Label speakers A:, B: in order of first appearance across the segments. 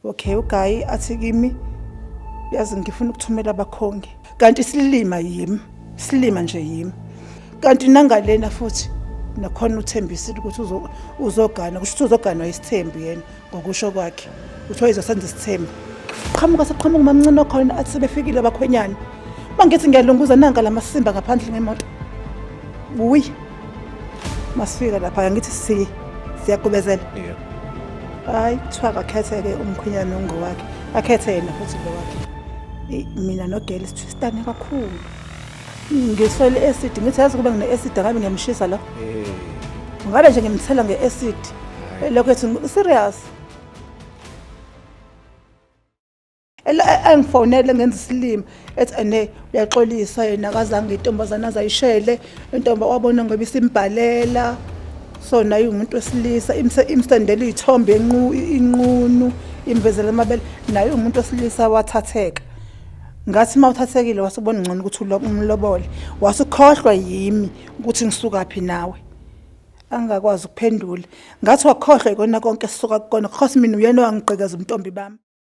A: Okay, ugayi athi kimi yazi ngifuna ukuthumela abakhongi. Kanti silima yimi, silima nje yimi. Kanti nangalena futhi nakhona uthembisile ukuthi uzogana kusho ukuthi uzoganwa isithembu yena ngokusho kwakhe kuthiwa izosenza isithembu qhamuka saqhamuka umamncane okhona athi sebefikile abakhwenyana uma ngithi ngiyalunguza nanka la masimba ngaphandle ngemoto wuyi masifika lapha ngithi si siyagubezela yeah
B: hayi
A: kuthiwa akakhetheke umkhwenyana ongowakhe akhethe yena futhi lo wakhe mina nogeli sithwistane kakhulu ngiswele i-acid ngithi yazi kuba ngine-acid angabe ngiyamshisa lo eh. ngabe nje ngimthela nge-acid lokho ethi serious engifonele ngenza isilima ethi ene uyaxolisa yena akazange intombazane azayishele intomba wabona ngoba isimbhalela so naye umuntu wesilisa imsendela iy'thombe inqunu imvezela amabele naye umuntu wesilisa wathatheka ngathi uma uthathekile wase ubona ngcono ukuthi umlobole wase ukhohlwa yimi ukuthi ngisuka phi nawe angakwazi ukuphendula ngathi wakhohlwa ikona konke sisuka kukona because mina uyena owangigqekeza umntombi bami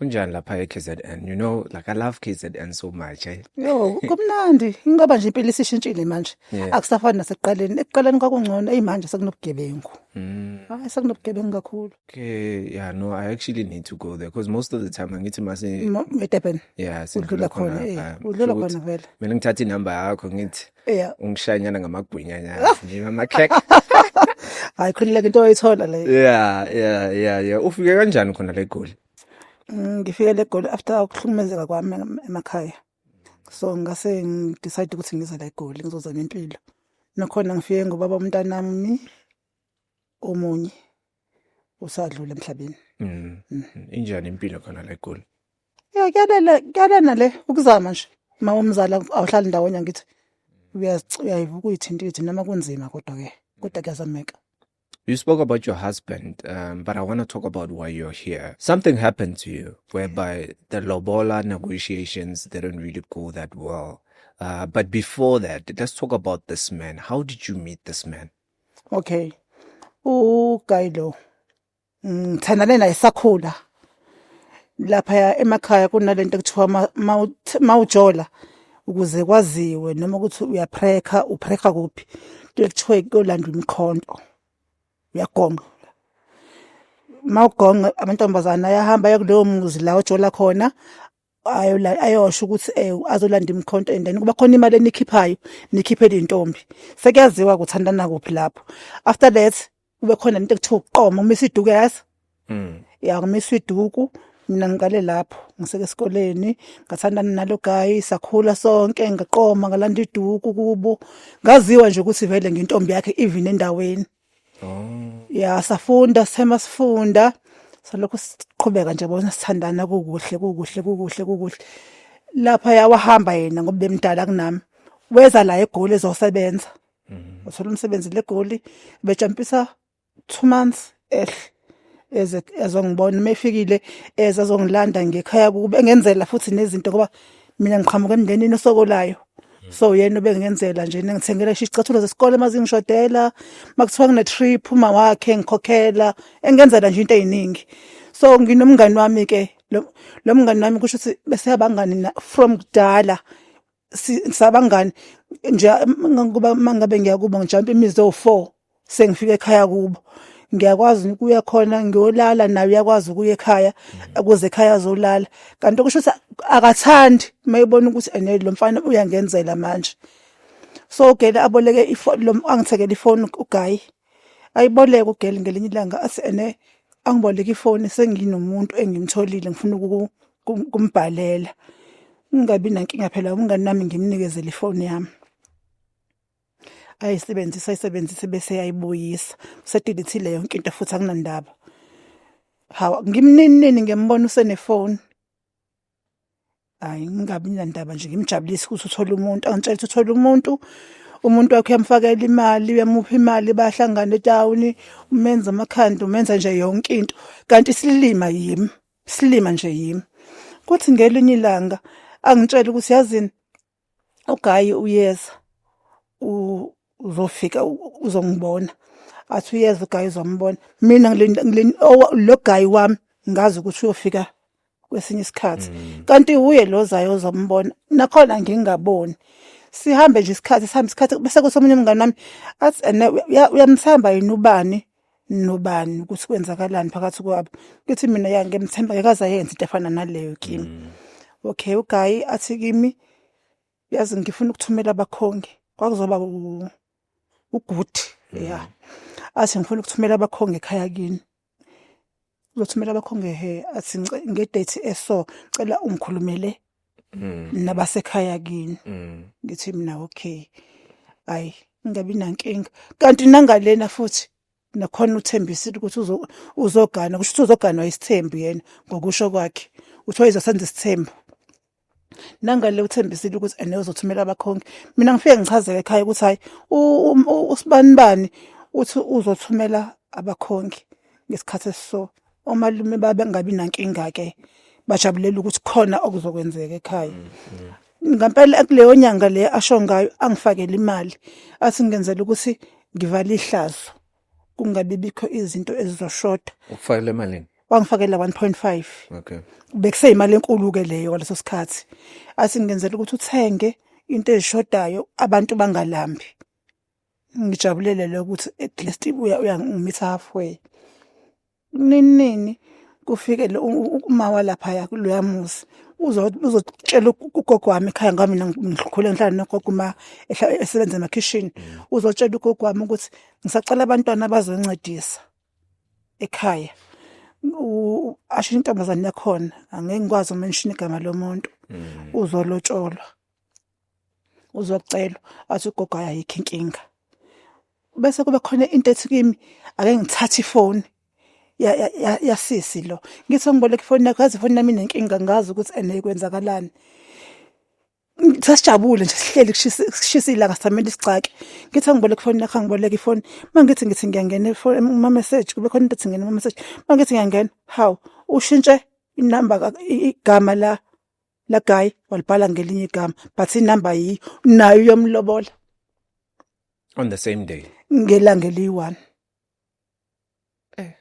A: Unjani
B: lapha eKZN? You know, like I love KZN so much. Eh? Yo, kumnandi.
A: Ngoba nje impilo isishintshile manje. Yeah. Akusafani nasekuqaleni. Ekuqaleni kwakungcono, hey manje sekunobugebengu. Mm. Hayi sekunobugebengu kakhulu. Okay, yeah, no,
B: I actually need to go there because most of the time angithi mase eDurban.
A: Yeah, sindlula
B: khona.
A: Udlula khona vele. Mina ngithatha inamba
B: yakho ngithi Yeah. Ungishanyana ngamagwinya nyana. Ngiba amakhek.
A: Hayi khulileke into oyithola le. Yeah, yeah, yeah,
B: yeah. Ufike kanjani khona le goli? Mm, ngifike
A: le goli after ukuhlukumezeka kwami emakhaya. So ngase ngidecide ukuthi ngize la eGoli ngizozama impilo. Nakhona ngifike ngobaba umntanami omunye usadlula emhlabeni mm. mm.
B: injani impilo khona la egoli ya kuyalena
A: kuyalena le ukuzama nje uma umzala awuhlali ndawonye ngithi uyayivuka uyithinta ithi noma kunzima kodwa ke kodwa kuyazameka You spoke
B: about your husband, um, but I want to talk about why you're here. Something happened to you whereby the Lobola negotiations didn't really go that well. Uh, but before that, let's talk about this man. How did you meet this man? okay
A: uguy lo ngithandane mm, naye sakhula lapha emakhaya kunalento ekuthiwa mawujola ukuze kwaziwe noma ukuthi uyaphrekha uphrekha kuphi kuthiwa kuyolandwa imikhonto uyagonga mawugonga amantombazana ayahamba ayokuleyo muzi la ojola khona ayo la ayosho ukuthi eh azolanda imkhonto and then kuba khona imali enikhiphayo nikhiphe intombi sekuyaziwa ukuthandana kuphi lapho after that kube khona into ekuthiwa uqoma uma isiduku yazi mm ya uma isiduku mina ngiqale lapho ngiseke esikoleni ngathandana nalo guy sakhula sonke ngaqoma ngalanda iduku kubo ngaziwa nje ukuthi vele ngintombi yakhe even endaweni oh. ya safunda sithema sifunda salokhu siqhubeka nje bona sithandana kukuhle kukuhle kukuhle kukuhle lapha yawahamba yena ngoba bemdala kunami weza la egoli ezosebenza mhm. uthola umsebenzi legoli bejampisa 2 months ehle eze ezongibona uma efikile eze azongilanda ngekhaya kube engenzela futhi nezinto ngoba mina ngiqhamuka emndenini osokolayo so yena ubengenzela nje ngithengela isho isicathulo zesikole mazingishodela makuthiwa ngine trip uma wakhe ngikhokhela engenzela nje into eziningi so nginomngani wami ke lo mngani wami kusho ukuthi bese abangani from kudala sabangani nje ngoba mangabe ngiyakuba ngijampa imizi ewu-four sengifika ekhaya kubo ngiyakwazi ukuya khona ngiyolala naye uyakwazi ukuya ekhaya ukuze ekhaya azolala kanti okusho ukuthi akathandi mayibona ukuthi ene lo mfana uyangenzela manje so ugele aboleke ifoni lo angithekele ifoni ugayi ayiboleke ugele ngelinye ilanga athi ene angiboleke ifoni senginomuntu engimtholile ngifuna kumbhalela ngingabi nankinga phela umngani nami ngimnikezele ifoni yami ayisebenzisa ayisebenzise bese yayibuyisa usedilithile yonke into futhi akunandaba hawa ngimninini ngembona usenefoni hayi ngingabi nandaba nje ngimjabulise ukuthi uthole umuntu angitshela ukuthi uthole umuntu umuntu wakhe uyamfakela imali uyamupha imali bahlangana etawuni umenza amakhanda umenza nje yonke into kanti silima yimi Silima nje yimi. Kuthi ngelinye ilanga angitshela ukuthi yazini ugayi uyeza uzofika uzongibona athi uyeza ugayi uzombona mina lo gayi wami ngazi ukuthi uyofika kwesinye isikhathi mm. kanti uye lo zayo ozombona nakhona ngingaboni sihambe nje isikhathi sihambe isikhathi bese kuthi omunye umngane wami athi ene uyamthemba yini ubani nobani ukuthi kwenzakalani phakathi kwabo ngithi mina ya ngiyamthemba ngekaze ayenze into efana naleyo kimi mm. okay ugayi athi kimi yazi ngifuna ukuthumela abakhongi kwakuzoba uguti mm. ya athi ngifuna ukuthumela abakhongi ekhaya kini uzothumela abakho ngehe athi ngice- ngedate eso cela ungikhulumele Mm. nabasekhaya kini Mm. ngithi mina okay hayi ngingabi nankinga kanti nangalena futhi nakhona uthembisile ukuthi uzo- uzogana kusho ukuthi uzoganwa isithembu yena ngokusho kwakhe uthi wayizosenza isithembu nangale uthembisile ukuthi ene uzothumela abakhongi mina ngifike ngichazeke ekhaya ukuthi hayi usibanibani uthi uzothumela abakhongi ngesikhathi esiso omalume babe ngabi nankinga ke bajabulela ukuthi khona okuzokwenzeka ekhaya mm, mm. ngempela kuleyo nyanga le asho ngayo angifakele imali athi ngenzela ukuthi ngivale ihlazo kungabe bikho izinto ezizoshoda ukufakela emalini
B: wangifakela 1.5
A: okay
B: bekuseyimali enkulu
A: ke leyo kwaleso sikhathi athi ngenzela ukuthi uthenge into ezishodayo abantu bangalambi ngijabulele lokuthi at least uya uyangimitha halfway Nini kufike lo uma walaphaya kuloya muzi uzotshela ugogo wami ekhaya ngami ngikhule ngihlala nogogo uma esebenza emakhishini mm. uzotshela ugogo wami ukuthi ngisacela abantwana abazoncedisa ekhaya asho intombazane yakhona angeke ngikwazi umenshini igama lomuntu mm. uzolotsholwa uzocelwa athi ugogo ayayikho inkinga bese kube khona into ethi kimi ake ngithathe ifoni yasisi lo ngithi ngiboleka ifoni yakho yazi ifoni yami inenkinga ngazi ukuthi ene kwenzakalani sasijabule nje sihleli kushisa ilanga samele isixake ngithi angiboleka ifoni yakho angiboleka ifoni mangithi ngithi ngiyangena ifoni uma message kube khona into ethi ngena uma message mangithi ngiyangena how ushintshe inamba igama la la guy walibhala ngelinye igama but inumber yiyo nayo uyomlobola
B: on the same day ngelanga
A: eliyi-one Eh.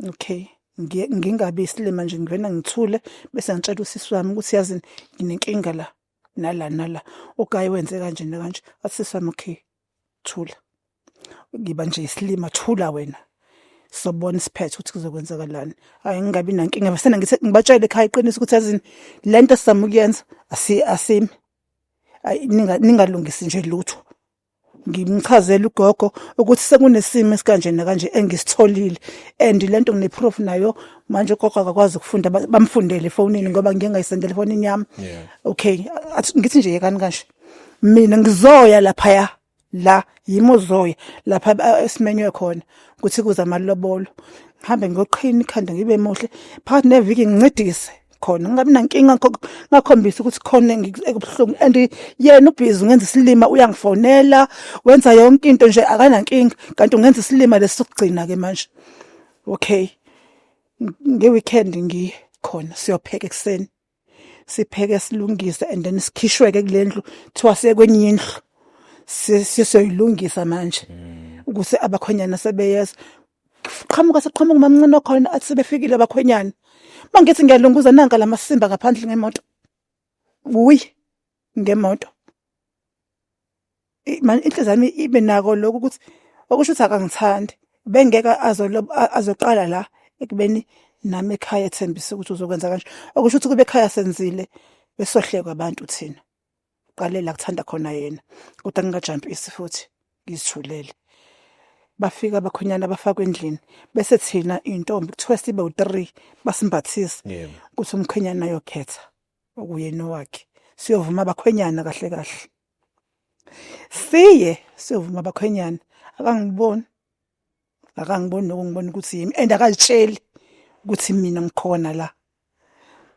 A: okay Ngi- ngingabi isilima nje ngivena ngithule bese ngitshela usisi wami ukuthi yazini nginenkinga la nala nala ugayi wenze kanje nakanje athi sisi wami okay thula ngiba nje isilima thula wena sobona isiphetho ukuthi kuzokwenzakalani hayi ngingabi nankinga basena ngithi ngibatshele ekhaya iqiniso ukuthi azini le nto sizama ukuyenza asimi ningalungisi nje lutho ngimchazela ugogo ukuthi sekunesimo esikanje nakanje engisitholile and lento ngineproof nayo manje ugogo akakwazi ukufunda bamfundele efonini ngoba ngiyengayisendele efonini yami okay ngithi nje yekani kanje mina ngizoya laphaya la yimi uzoya lapha eh, esimenywe khona ukuthi kuze amalobolo ngihambe ngiyoqhina ikhanda ngibe muhle phakathi neviki ngincedise khona ngingabi nankinga ngakhombisa ukuthi khona ekubuhlungu and yena ubhizi ungenza isilima uyangifonela wenza yonke into nje akanankinga kanti ungenza isilima lesi sokugcina ke manje okay nge-weekend ngikhona siyopheka ekuseni sipheke silungise and then sikhishweke kulendlu thiwa sekwenye indlu sisoyilungisa manje mm. ukuthi abakhonyana sebeyeza qhamuka seqhamuka umamncane okhona athi sebefikile abakhwenyana mangithi ngiyalunguza nanka lamasimba ngaphandle ngemoto uyi ngemoto man inhliziyo yami ibe nako lokho ukuthi okusho ukuthi akangithandi bengeke azoqala la ekubeni nami ekhaya ethembise ukuthi uzokwenza kanje okusho ukuthi kube ekhaya senzile besohlekwa abantu thina qalela kuthanda khona yena kodwa ngingajampisi futhi ngizithulele bafika abakhonyana bafakwe endlini bese thina intombi kuthiwa sibe u3 basimbathisa ukuthi umkhwenyana ayokhetha okuyena wakhe siyovuma abakhwenyana kahle kahle siye siyovuma bakhwenyana akangiboni akangiboni nokungibona ukuthi yimi and akazitsheli ukuthi mina ngikhona la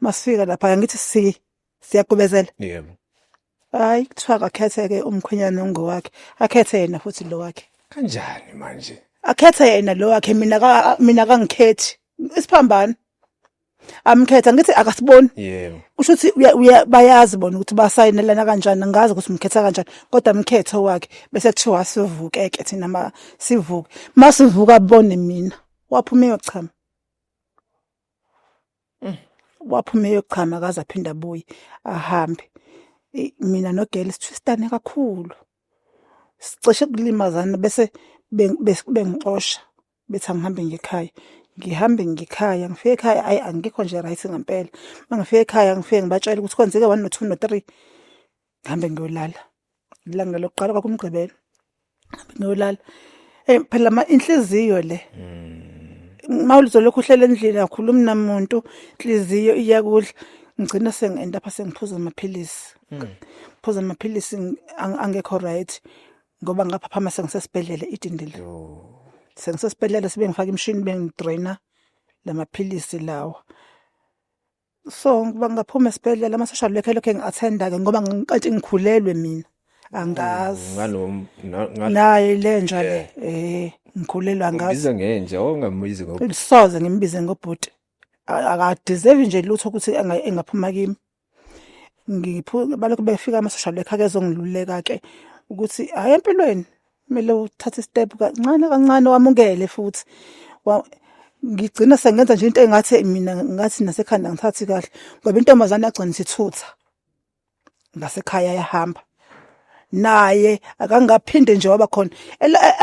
A: masifika lapha angithi si siyagubezela yebo hayi kuthiwa akakhetheke umkhwenyana ongowakhe akhethe yena futhi lo wakhe kanjani manje
B: akhethe yena lo
A: wakhe mina ka mina kangikhethi isiphambano amkhetha ngithi akasiboni yebo kusho ukuthi
B: uya- uya-
A: bayazi bona ukuthi basayinelana kanjani angazi ukuthi umkhetha kanjani kodwa mkhetho wakhe bese kuthiwa sivukeke thina ma sivuke ma sivuka abone mina waphuma eyochama waphuma eyochama akaze aphinde abuye ahambe I- mina nogele sithwistane kakhulu sicishe kulimazana bese beng- bes- bengixosha bethi angihambe ngekhaya ngihambe ngikhaya ngifike ekhaya ayi angikho nje right ngempela uma ngifike ekhaya ngifike ngibatshela ukuthi kwenzeke one no two no three ngihambe ngiyolala ilanga lokuqala kwakumgqibelo ngihambe ngiyolala um phela ma inhliziyo le mm. ma ulizolokhu uhlela endlini akhulumi namuntu inhliziyo iyakudla ngigcina sengi-end apha sengiphuza amaphilisi mm. phuza amaphilisi angekho right ngoba ngaphaphama sengisesibhedlela idindile sengisesibhedlela sibe ngifaka imshini bengidraina lamaphilisi lawa so ngiba ngaphuma esibhedlela ama social worker lokho engiattenda ke ngoba ngiqathi ngikhulelwe mina angazi mm, nganom naye lenja le eh ngikhulelwa ngazi ngibiza ngenja ongambizi
B: ngokuthi soze ngimbize
A: ngobhuti akadeserve nje lutho ukuthi engaphuma kimi ngiphuke balokhu befika amasosha lekha kezongiluleka ke ukuthi hayi empilweni kumele uthathe step kancane kancane wamukele futhi ngigcina sengenza nje into engathi mina ngathi nasekhanda ngithathi kahle ngoba intombazane yagcina isithutha ngasekhaya yahamba naye akangaphinde nje waba khona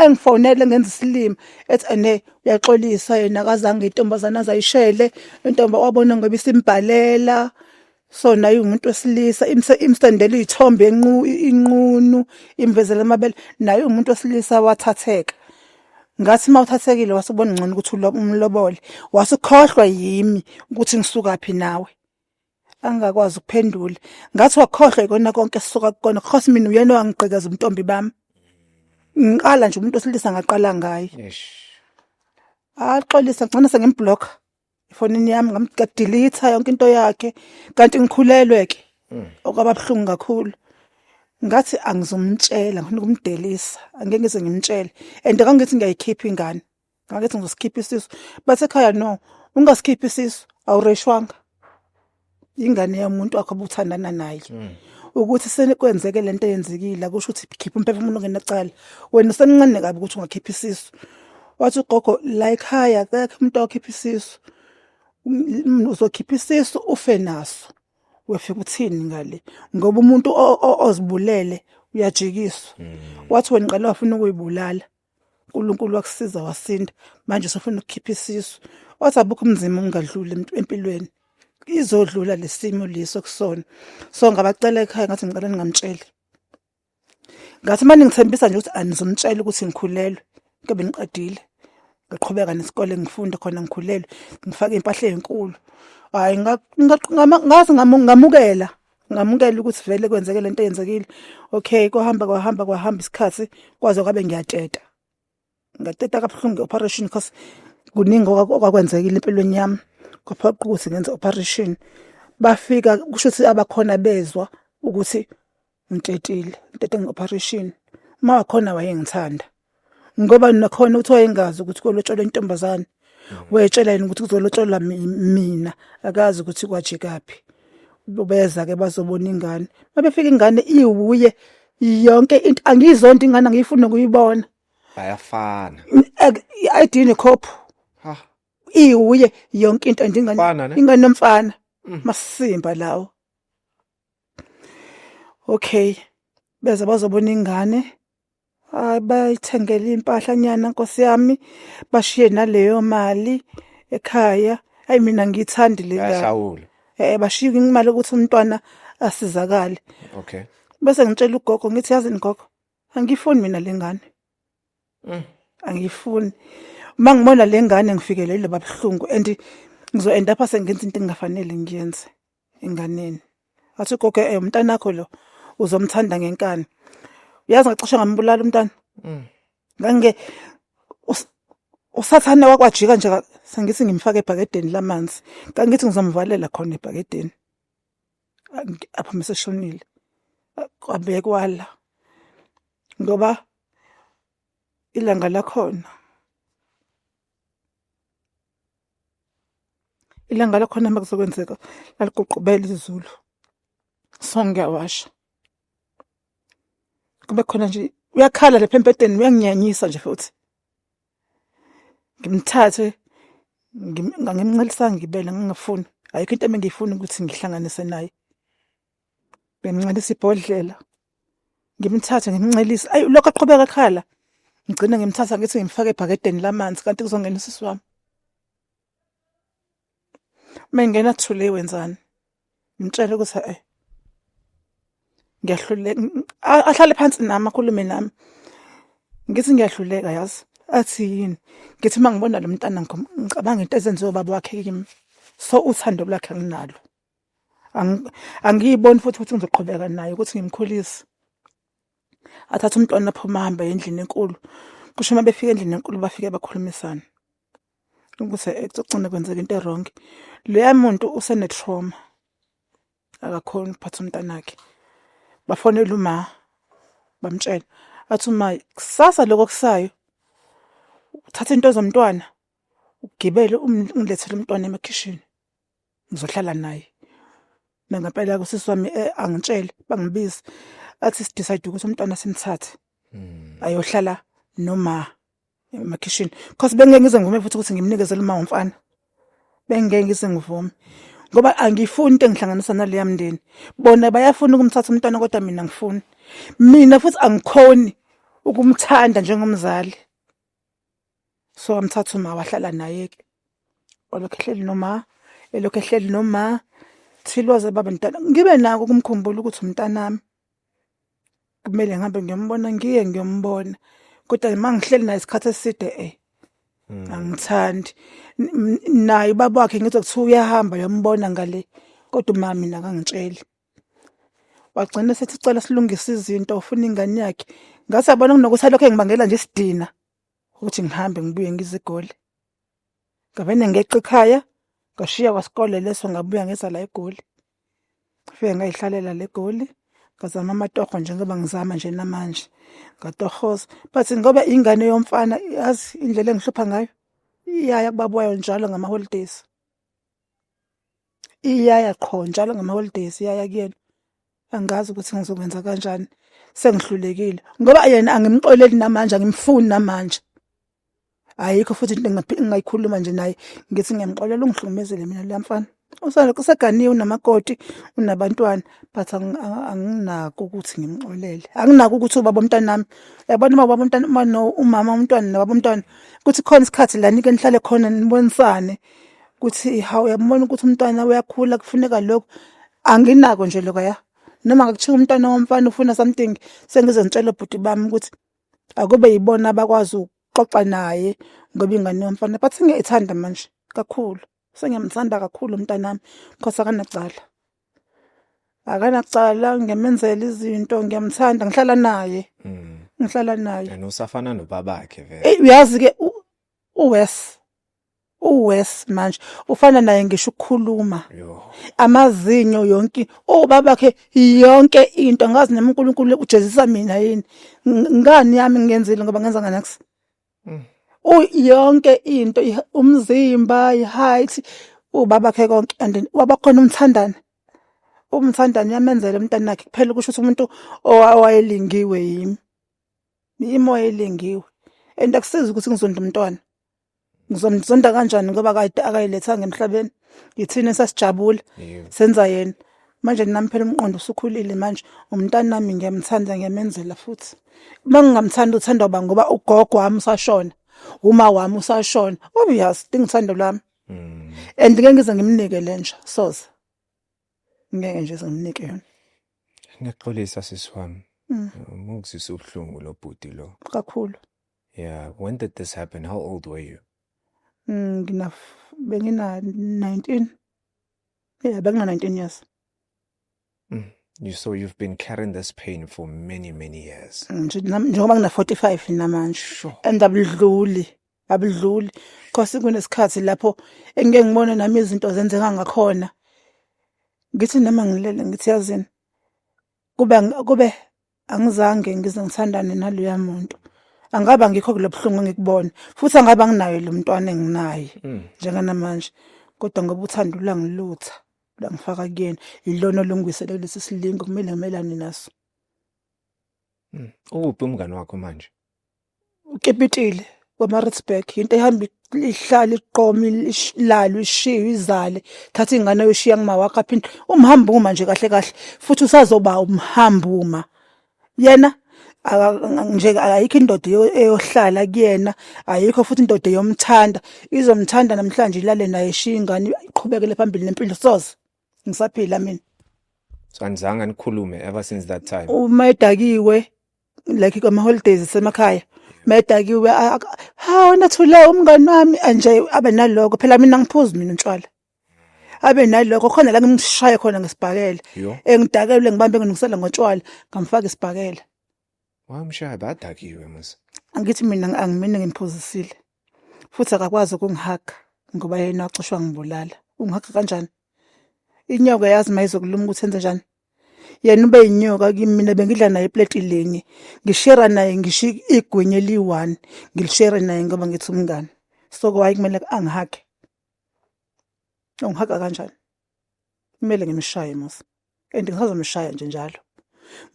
A: engifonele ngenza isilima ethi ene uyaxolisa yena akazange intombazana azayishele intomba wabona ngoba isimbhalela so naye umuntu wesilisa imsendela iy'thombe inqunu imvezela amabele naye umuntu wesilisa wathatheka ngathi uma uthathekile wase ubona ngcono ukuthi umlobole wase ukhohlwa yimi ukuthi ngisukaphi nawe angakwazi ukuphendula ngathi wakhohlwa ikona konke sisuka kukona khos mina uyena owangigqekeza umntombi bami ngiqala nje umuntu osilisa ngaqala ngaye Eish. axolisa ngcona sengimblock efonini yami ngamdelete yonke into yakhe kanti ngikhulelwe ke okwababuhlungu kakhulu ngathi angizomtshela ngifuna ukumdelisa angeke ngize ngimtshele and kangithi ngiyayikhipha ingane ngakethi ngizosikhipha isisu basekhaya no ungasikhiphi isisu awureshwanga ingane yomuntu wakho obuthandana naye hmm. ukuthi senikwenzeke lento eyenzekile kusho ukuthi khipha umphefumulo ngenacala wena usemncane kabi ukuthi ungakhipha isisu wathi ugogo la ekhaya akekho umuntu okhipha isisu um, uzokhipha isisu ufe naso wefika uthini ngale ngoba umuntu ozibulele uyajikiswa hmm. wathi wena ngicela wafuna ukuyibulala uNkulunkulu wakusiza wasinda manje usufuna ukukhipha isisu wathi abukho umzima ungadluli empilweni izodlula lesimo leso kusona so ngabacela ekhaya ngathi ngicela ningamtsheli ngathi manje ngithembisa nje ukuthi anizomtshela ukuthi ngikhulelwe into bengiqedile ngiqhubeka nesikole ngifunda khona ngikhulelwe ngifake impahla ezinkulu hayi ngathi ngamukela ngamukela ukuthi vele kwenzeke lento eyenzekile okay kohamba kwahamba kwahamba isikhathi kwaze kwabe ngiyatsheta ngateta kabuhlungu operation because kuningi okwakwenzekile empilweni yami kwaphoqa ukuthi ngenze operation bafika kusho ukuthi abakhona bezwa ukuthi ngitetile ngitete nge-operation uma wakhona wayengithanda ngoba nakhona uthi wayengazi ukuthi kolotshola intombazane wetshela yena ukuthi kuzolotshola mi- mina akazi ukuthi kwajikaphi beza ke bazobona ingane mabefika ingane iwuye yonke into angiyizonto ingane angiyifuni nokuyibona bayafana
B: i-id
A: nekhophu ha iwuye yonke into nje ingane Mfana, ne? ingane yomfana Mm. masimba lawo okay beza bazobona ingane Hayi bayithengela impahla nyana nkosi yami bashiye naleyo mali ekhaya. Hayi mina ngiyithandi le ndaba. Bayahlawula. Eh
B: bashiye
A: imali ukuthi umntwana asizakale. Okay.
B: Bese ngitshela
A: ugogo ngithi yazi ngogo angiyifuni mina lengane. Mm. Angiyifuni. Uma ngibona lengane ngifikelele babuhlungu and ngizo end up sengenza into engafanele ngiyenze. enganeni athi gogo eh umntana wakho lo uzomthanda ngenkani uyazi ngacishe ngambulala umntana Mm. ngange us- usathane wakwajika nje ka- sengithi ngimfake ebhakedeni lamanzi kangithi ngizomvalela khona ebhakedeni A- ngi- apha meseshonile A- kwabekwala ngoba ilanga lakhona ilanga lakhona uma kuzokwenzeka laligoqobela izulu so ngiyawasha kube khona nje uyakhala lapha embhedeni uyanginyanyisa nje futhi ngimthathe ngimncelisanga ngibele ngingafuni ayikho into engiyifuni ukuthi ngihlanganise naye Bemncelisa ibhodlela. Ngimthathe ngimncelisa. Ayi lokho aqhubeka ekhala. Ngigcine ngimthatha ngithi ngimfake ebhakedeni lamanzi kanti kuzongena usisi wami. Mengena thule wenzani? Ngimtshela ukuthi eh ngiyahluleka ahlale phansi nami akhulume nami ngithi ngiyahluleka yazi athi yini ngithi uma ngibona lo mntana ngicabanga into ezenziwe baba wakhe kimi so uthando lwakhe anginalo angiyiboni futhi ukuthi ngizoqhubeka naye ukuthi ngimkhulise athathe umntwana aphuma ahambe endlini enkulu kusho uma befika endlini enkulu bafike bakhulumisana ukuthi ekugcina kwenzeka into erongi loya muntu usenetrauma akakhoni ukuphatha umntanakhe bafonela uma bamtshela athi uma kusasa lokho kusayo uthatha into zomntwana ugibele um, ungilethele umntwana emakhishini ngizohlala naye nangempela kusisi wami eh, angitshele bangibizi athi sidecide ukuthi umntwana simthathe Hmm. ayohlala noma emakhishini because bengeke ngize ngivume futhi ukuthi ngimnikezele uma umfana bengeke ngize ngivume ngoba angifuni into engihlanganisa naleya mndeni bona bayafuna ukumthatha umntwana kodwa mina ngifuni mina futhi angikhoni ukumthanda njengomzali so wamthatha uma wahlala naye ke walokhu ehleli noma elokhu ehleli noma thiloze baba mntana ngibe nako kumkhumbula ukuthi umntanami kumele ngihambe ngiyombona ngiye ngiyombona kodwa uma ngihleli naye isikhathi eside eh hmm. angithandi naye ubaba wakhe ngizwa kuthiwa uyahamba yombona ngale kodwa uma mina kangitsheli wagcina sethi cela silungise izinto ufuna ingane yakhe ngathi yabona kunokuthi alokho engibangela nje isidina ukuthi ngihambe ngibuye ngizigoli ngabene ngeqa ekhaya ngashiya kwasikole leso ngabuya ngeza la egoli ngifike ngayihlalela le goli ngazama amatoho njengoba ngizama nje namanje ngatohoza but ngoba ingane yomfana yazi indlela engihlupha ngayo iyaya kubabuwayo njalo ngama-holidays iyaya qho njalo ngama-holidays iyaya kuyena angazi ukuthi ngizokwenza kanjani sengihlulekile ngoba yena angimxoleli namanje angimfuni namanje ayikho futhi into engingayikhuluma nje naye ngithi ngiyamxolela ungihlukumezele mina leya mfana useganiwe unamakoti unabantwana but anginako ukuthi ngimxolele anginako ukuthi ubaba omntanami yabona uma ubaba omntana uma no umama umntwana nobaba omntwana kuthi khona isikhathi la nike nihlale khona nibonisane ukuthi hawu uyambona ukuthi umntwana uyakhula kufuneka lokhu anginako nje lokaya noma ngakuthiwa umntwana womfana ufuna something sengizonitshela bhuti bami ukuthi akube yibona abakwazi ukuxoxa naye ngoba ingane yomfana but ngiyayithanda manje kakhulu sengiyamthanda kakhulu umntanami because akanacala akanacala ngiyamenzela izinto ngiyamthanda ngihlala naye mm. ngihlala naye and usafana nobabakhe
B: vele uyazi ke
A: uwes uwes manje ufana naye ngisho ukukhuluma amazinyo yonke obabakhe yonke into ngazi nami uNkulunkulu ujezisa mina yini ngani yami ngenzile ngoba ngenza nganax mm. u yonke into umzimba iheight ubabakhe konke and wabakhona umthandana umthandana uyamenzela umntana wakhe kuphela kusho ukuthi umuntu owayelingiwe yimi imoya elingiwe and akusizi ukuthi ngizonda umntwana ngizomsonda kanjani ngoba kade akayilethanga emhlabeni yithina esasijabula senza yena manje nami phela umqondo usukhulile manje umntana nami ngiyamthanda ngiyamenzela futhi uma ngingamthanda uthanda uba ngoba ugogo wami usashona uma wami usashona obvious ndingithando lwami mm. and ngeke ngize ngimnike lenja soze ngeke nje ngimnike yona ngiyaxolisa
B: sisi wami mm. mungizisa ubuhlungu lobhuti lo kakhulu
A: Yeah, when
B: did this happen? How old were you? Mm, ngina
A: bengina 19. Yeah, bengina 19 years. Mm. You
B: so you've been carrying this pain for many many years. Mm, nje nam- njengoba ngina
A: 45 namanje Sure. and
B: abudluli
A: abudluli cause kunesikhathi lapho engike ngibone nami izinto zenzeka ngakhona ngithi noma ngilele ngithi yazini kube kube angizange ngize ngithandane naloya muntu angabe angikho kule buhlungu engikubona futhi angabe anginayo lo mntwana enginaye mm. njenganamanje kodwa ngoba uthanda ulangilutha langifaka kuyena yilona olungwisele kulesi silingo kumele ngimelane naso mm.
B: ukuphi umngane wakho manje ukepitile
A: wemaritzburg yinto ehamba ihlale iqoma ilalwe ishiwe izale thatha ingane yoshiya ngimawakho aphinde umhambuma nje kahle kahle futhi usazoba umhambuma yena nje ayikho indoda eyohlala kuyena ayikho futhi indoda eyomthanda izomthanda namhlanje ilale naye ishiya ingane iqhubekele phambili nempilo soze ngisaphila mina so anizange
B: nikhulume ever since that time uma edakiwe
A: like kwama holidays semakhaya medakiwe hawu nathule umngani wami anje abe naloko phela mina ngiphuzi mina utshwala abe naloko khona la ngimshaye khona ngesibhakela engidakelwe ngibambe ngingisela ngotshwala ngamfaka isibhakela wamshaya
B: badakiwe mase angithi mina
A: angimini ngimphuzisile futhi akakwazi ukungihaga ngoba yena waxoshwa ngibulala ungihaga kanjani inyoka yazi mayizokuluma ukuthi enze njani yena ube yinyoka kimi mina bengidla naye iplate linye ngishare naye ngisho igwinye eliyi-one ngilishare naye ngoba ngithi umngane so kwayi kumele angihage ungihaga kanjani kumele ngimshaye musa and ngisazomshaya nje njalo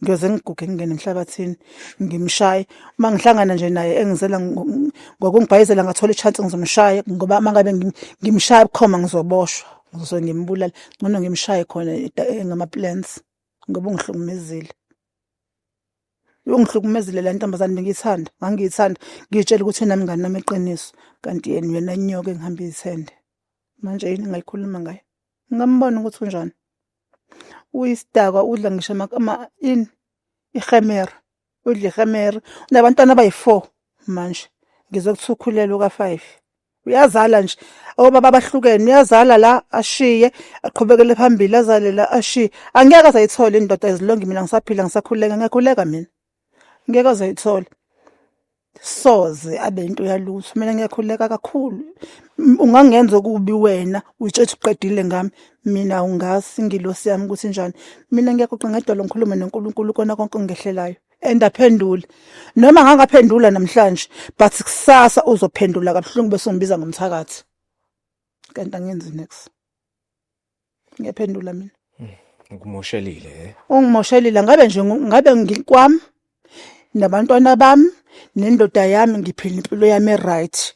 A: ngiyoze ngiguge ngingene emhlabathini ngimshaye uma ngihlangana nje naye engizela ngokungibhayizela ngathola i-chance ngizomshaya ngoba uma ngabe ngimshaya bukhoma ngizoboshwa ngizose ngimbulale ngcono ngimshaye khona eh, ngama-plans ngoba ungihlukumezile ungihlukumezile la ntombazane bengiyithanda ngangiyithanda ngiyitshela ukuthi yena mngani nami iqiniso kanti yena yena nyoka engihamba izithende manje yini ngayikhuluma ngayo ngambona ukuthi unjani uyisidakwa udla ngisho ama ini ihemera udlihemer unabantwana abayi-four manje ngizokuthiwa ukhulelwe ka-five uyazala nje obaba abahlukene uyazala la ashiye aqhubekele phambili azale la ashiye angeke azayithola indoda ezilongi mina ngisaphila ngisakhuleka ngiyakhuleka mina ngeke azayithola soze abe into yalutho mina ngiyakhuleka kakhulu ungangenza okubi wena utshethe uqedile ngami mina ungazi ingilosi yami ukuthi njani mina ngiyakuqa ngedolo ngikhulume noNkulunkulu kona konke ongehlelayo and aphendule noma ngangaphendula namhlanje but kusasa uzophendula kabuhlungu bese umbiza ngomthakathi kanti angenzi next ngiyaphendula mina ngikumoshelile
B: eh? ungimoshelile
A: ngabe nje ngu- ngabe ngikwami nabantwana bami nendoda yami ngiphila impilo yami right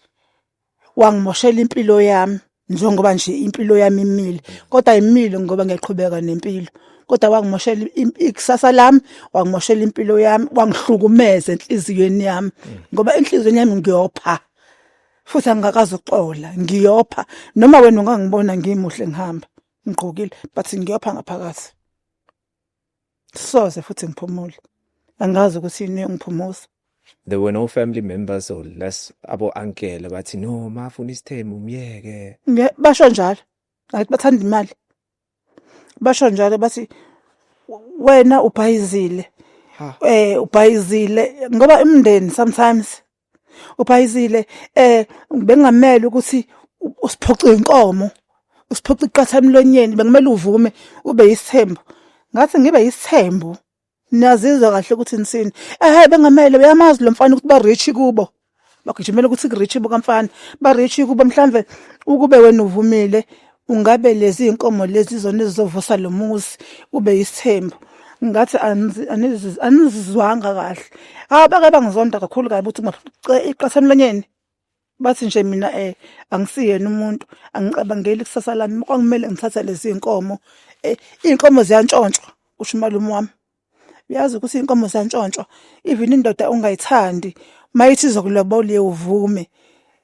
A: wangimoshela impilo yami njengoba nje impilo yami imile kodwa imile ngoba ngiyaqhubeka nempilo kodwa wangimoshela im- ikusasa lami wangimoshela impilo yami wangihlukumeza enhliziyweni yami ngoba enhliziyweni yami ngiyopha futhi angingakazi ukuxola ngiyopha noma wena ungangibona ngimuhle ngihamba ngigqokile but ngiyopha ngaphakathi soze futhi ngiphumule angazi ukuthi yini engiphumusa there were no
B: family members or less abo ankele bathi no mafuna isithembu myeke basho njalo
A: ngathi bathanda imali basho njalo bathi wena ubhayizile eh ubhayizile ngoba imndeni sometimes uBhayizile eh bengamele ukuthi usiphoxe inkomo usiphoxe iqatha emlonyeni bekumele uvume ube yisithembu ngathi ngibe yisithembu niyazizwa kahle ukuthi nisini ehe bengamele uyamazi lo mfana ukuthi ba rich kubo bagijimela ukuthi ku rich bukamfana ba rich kubo mhlambe ukube wena uvumile Ungabe lezi inkomo lezi zona ezizovusa lo muzi ube yisithembu ngathi anizizwanga kahle hawu bake bangizonda kakhulu kabi ukuthi iqatha emlonyeni bathi nje mina um angisiyena umuntu angicabangeli kusasa lami kwakumele ngithathe lezi iy'nkomo um iy'nkomo ziyantshontshwa kusho umalume wami uyazi ukuthi inkomo zantshontsho even indoda ungayithandi mayithi zokulobola uvume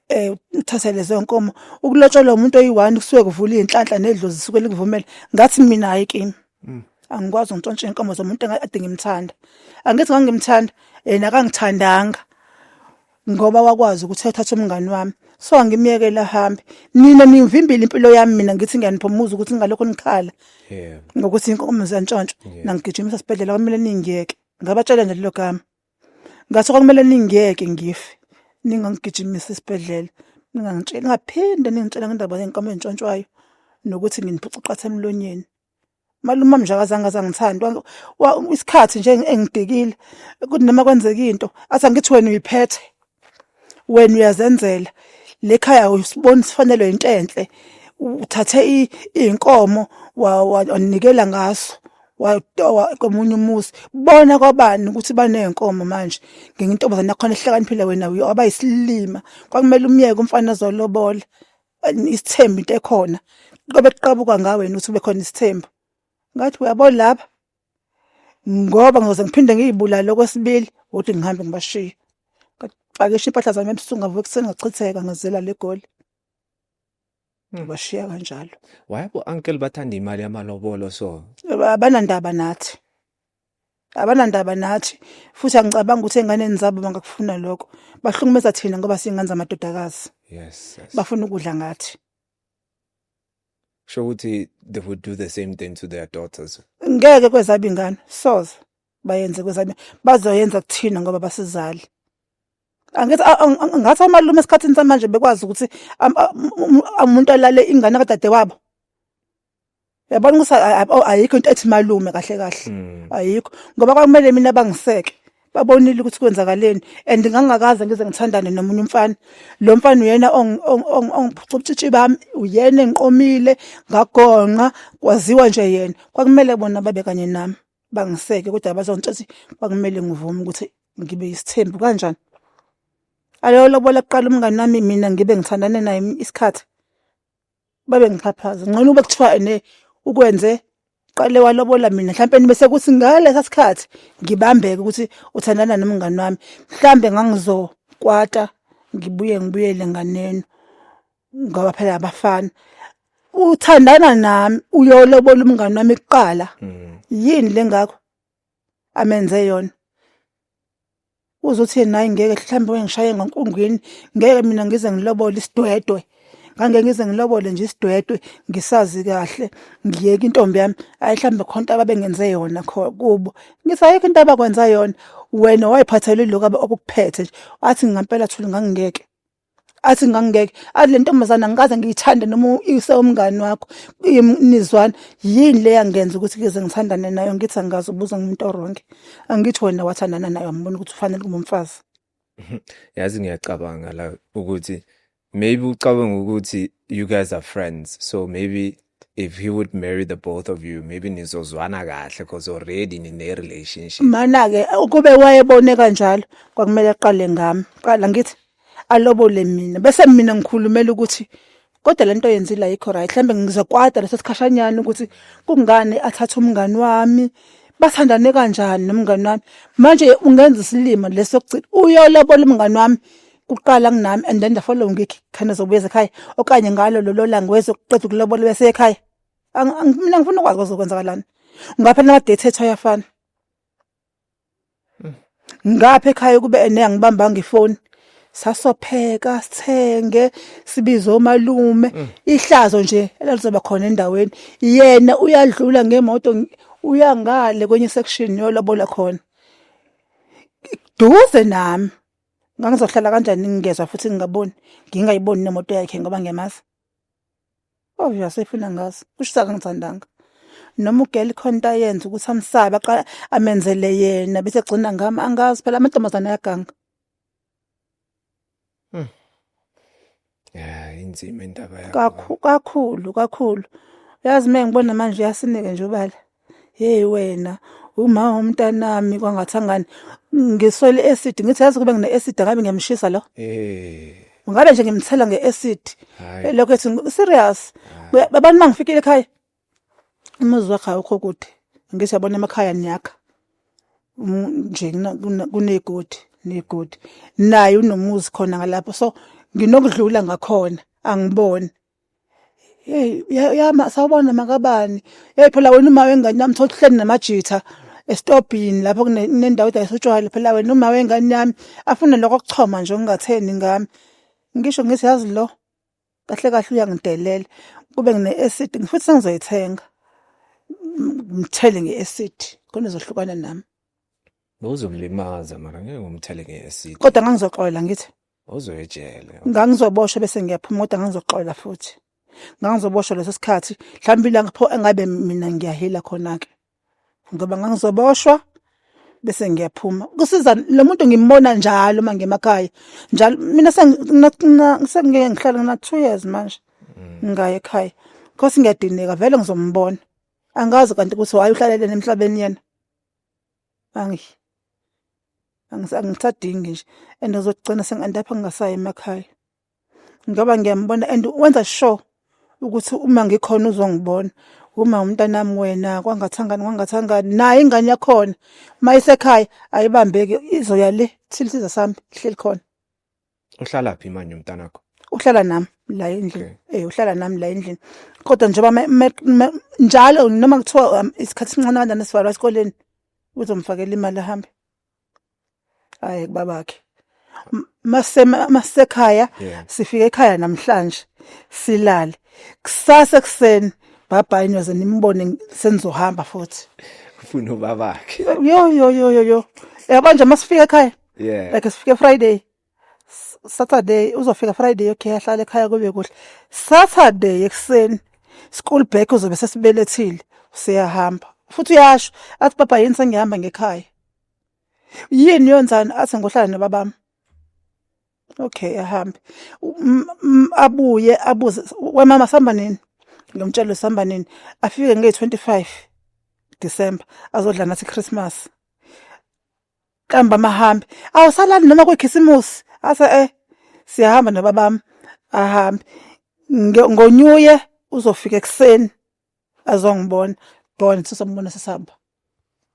A: eh uthathe lezo nkomo ukulotsholwa umuntu oyi1 kusuke kuvula inhlanhla nedlozi zisuke likuvumela ngathi mina hayi kimi mm. angikwazi ngitshontshe inkomo zomuntu engadinga imthanda angithi ngangimthanda yena akangithandanga ngoba wakwazi ukuthi athathe umngani wami so angimyekela hambe nina nivimbile impilo yami mina ngithi ngiyaniphomuza ukuthi ngalokho nikhala yeah. ngokuthi inkomo zantshontsho yeah. nangigijimisa sibhedlela kwamele ningiyeke ngabatshela nje lelo gama ngathi kwakumele ningiyeke ngife ningangigijimisa esibhedlela ningangitsheli ngaphinde ningitshela ngendaba yenkomo entshontshwayo nokuthi nginiphuca qatha emlonyeni malume wami nje akazange azangithandi isikhathi nje engidikile kuthi noma kwenzeka into athi angithi wena uyiphethe wena uyazenzela le khaya usibona sifanelwe yinto enhle uthathe iy'nkomo wanikela ngaso watowa komunye umuzi bona kwabani ukuthi baney'nkomo manje ngingintombazane yakhona ehlakaniphile wena waba yisilima kwakumele umyeke umfana azolobola isithembu into ekhona qobe kuqabuka ngawe wena uthi bekhona isithembu ngathi uyabo laba ngoba ngizoze ngiphinde ngiyibulale okwesibili ukuthi ngihambe ngibashiye ngapakisha impahla zami ebusuku ngavuka ekuseni ngachitheka ngizela le goli ngibashiya hmm. kanjalo wayebo uncle
B: bathanda imali yamalobolo so abanandaba
A: nathi abanandaba nathi futhi angicabangi ukuthi enganeni zabo bangakufuna lokho bahlukumeza thina ngoba singane zamadodakazi yes, yes. bafuna
B: ukudla ngathi sho ukuthi they would do the same thing to their daughters ngeke kwezaba
A: ingane soze bayenze kwezaba bazoyenza kuthina ngoba basizali angithi ngathi amalume esikhathini samanje bekwazi ukuthi umuntu alale ingane kadade wabo yabona ukuthi oh, ayikho into ethi malume kahle kahle hmm. ayikho ngoba kwakumele mina bangiseke babonile ukuthi kwenzakaleni and ngangakaze ngize ngithandane nomunye umfana lo mfana uyena ongiphucutshitshi bami uyena engiqomile ngagonqa kwaziwa nje yena kwakumele bona babe kanye nami bangiseke kodwa bazongitshathi kwakumele ngivume ukuthi ngibe isithembu kanjani aloyo lobola kuqala umngane nami mina ngibe ngithandane naye isikhathi babe ngixhaphaza ngcono ube kuthiwa ene ukwenze qale walobola mina mhlawumbe nibe sekuthi ngalesa sikhathi ngibambeke ukuthi uthandana nomngani wami mhlawumbe ngangizokwata ngibuye ngibuyele nganeno ngoba phela abafana uthandana nami uyolobola umngani wami kuqala mm. yini lengakho amenze yona uzothi naye ngeke mhlawumbe wengishaye ngonkungwini ngeke mina ngize ngilobole isidwedwe ngangeke ngize ngilobole nje isidwedwe ngisazi kahle ngiyeke intombi yami ayihlambe khona into ababengenze yona kubo ngisayeke into abakwenza yona wena wayiphathele lokho okuphethe nje wathi ngampela thula ngangingeke athi ngangingeke athi le ntombazana ngikaze ngiyithande noma ise umngani wakho nizwana yini le yangenza ukuthi ngeze ngithandane nayo ngithi angikaze ubuza ngumuntu oronke angithi wena wathandana nayo ambona ukuthi ufanele kube umfazi yazi
B: ngiyacabanga la ukuthi maybe ucabanga ukuthi you guys are friends so maybe if he would marry the both of you maybe nizozwana kahle because already nine relationship mana ke ukube
A: wayebone kanjalo kwakumele aqale ngami qala ngithi alobole mina bese mina ngikhulumela ukuthi kodwa lento yenzile ayikho right mhlambe ngizokwada leso sikhashanyana ukuthi kungani athatha umngani wami bathandane kanjani nomngani wami manje ungenza isilima leso ukugcina uyolobola umngani wami kuqala kunami and then the following week khona zobuyeza ekhaya okanye ngalo lolo langa wezokuqeda ukulobola bese ekhaya mina ngifuna ukwazi kwazokwenzakalani ngapha nama-date ethu ayafana ngapha ekhaya kube ene angibambanga ifoni sasopheka sithenge sibize omalume mm. ihlazo nje elalizoba khona endaweni yena uyadlula ngemoto uyangale kwenye section yolobola khona duze nami ngangizohlala kanjani ngingezwa futhi ngingaboni ngingayiboni nemoto yakhe ngoba ngiyamazi oh yasefuna ngazi kusho akangithandanga noma ugeli khona into ayenza ukuthi amsabe aqala amenzele yena bese egcina ngami angazi phela amantombazane ayaganga hmm.
B: ya inzima indaba yakho kakhulu kakhulu kakhulu
A: uyazi mina ngibona manje uyasineke nje ubala hey wena uma womntanami kwangathangani ngiswele acid ngithi yazi kube ngine acid ngabe ngiyamshisa lo eh ngabe nje ngimthela nge acid lokho ethi serious abantu mangifikile ekhaya umuzi wakhe awukho kude ngise yabona emakhaya niyakha nje kunegodi negodi naye unomuzi khona ngalapho so nginokudlula ngakhona angiboni hey yama sawubona makabani hey phela wena uma wengane yami thothi hleni namajitha esitobhini lapho kunendawo edayisa utshwala phela wena uma wengane yami afune lokho kuchoma nje ongatheni ngami ngisho ngithi yazi lo kahle kahle uyangidelela kube ngine acid ngifuthi sengizoyithenga ngithele nge acid khona izohlukana nami
B: Bowuzomlimaza mara ngeke umthele nge-acid. kodwa ngangizoxolela
A: ngithi Uzoyejele. ngangizoboshwa
B: bese
A: ngiyaphuma kodwa ngangizoxolela futhi ngangizoboshwa leso sikhathi mhlawumbe ilanga pho engabe mina ngiyahila khona-ke ngoba ngangizoboshwa bese ngiyaphuma kusiza lo muntu ngimbona njalo uma ngemakhaya njalo mina sengingeke ngihlale ngina two years manje mm. ngaye ekhaya khosi ngiyadineka vele ngizombona angazi kanti ukuthi waye uhlalele emhlabeni yena angi angisadingi nje and ngizogcina sengandapha ngingasayi emakhaya ngoba ngiyambona and wenza sure ukuthi uma ngikhona uzongibona uma umntanami wena kwangathangani kwangathangani naye ingane yakhona uma isekhaya ayibambeki izoya le thile siza sami ihleli khona uhlala
B: phi manje umntanakho uhlala nami
A: la endlini Okay. eh uhlala nami la endlini kodwa njengoba me- me- me- njalo noma kuthiwa um, isikhathi sincane kanjani esivalo esikoleni uzomfakela imali ahambe hayi babakhe masekhaya sifike ekhaya namhlanje silale kusasa ekseni bhabhayi nyoze nimbone senizohamba futhi ufuna
B: ubabakhe yo yo yo yo
A: yabo nje masifika ekhaya yeah like sifike friday Saturday uzofika Friday okay ahlale ekhaya kube kuhle Saturday ekuseni school back uzobe sesibelethile siyahamba futhi uyasho athi baba yini sengihamba ngekhaya yini yonzani athi ngohlala nobabami okay ahambe abuye abuze wemama sihamba nini ngimtshela sihamba nini afike nge-25 December azodla nathi Christmas Qamba mahambe. Awusalali noma kwekhisimusi. Ase eh siyahamba nababami. Ahambe. Nge- Ngonyuye uzofika ekseni. Azongibona. Bona sisombona sisamba.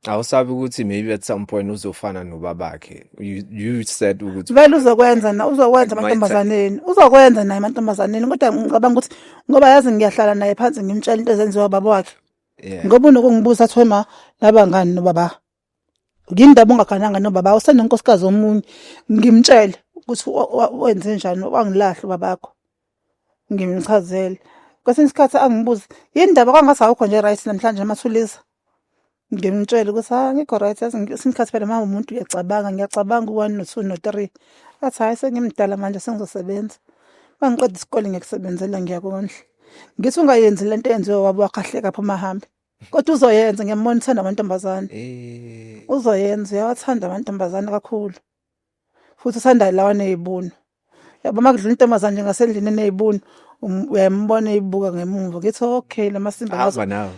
A: Awusabi
B: ukuthi maybe at some point uzofana nobabakhe. You you said ukuthi Vele uzokwenza na
A: uzokwenza My amantombazaneni. Uzokwenza naye amantombazaneni kodwa ngicabanga ukuthi ngoba yazi ngiyahlala naye phansi ngimtshela into ezenziwa baba wakhe. yeah. Ngoba unokungibuza athi wema laba ngani nobaba. ngindaba ungagananga nobaba usenenkosikazi omunye ngimtshele ukuthi wenze njani wangilahla ubabakho ngimchazele kwesinye isikhathi angibuze yini ndaba kwangase awukho nje right namhlanje amathulisa ngimtshele ukuthi ha ngikho right kwesinye isikhathi phela mama umuntu uyacabanga ngiyacabanga u-one no-two no-three athi hhayi sengimdala manje sengizosebenza uma ngiqeda isikole ngiyakusebenzela ngiyakondla ngithi ungayenzi le nto eyenziwe wabo wakhahleka phuma hambe Kodwa uzoyenza ngiyambona uthanda amantombazane. Eh. Uzoyenza uyawathanda amantombazane kakhulu. Futhi uthanda lawa nezibunu. Yabo makudlula intombazane nje ngasendlini nezibunu um, uyambona eyibuka ngemumva. Ngithi okay lamasimba Hamba nawe.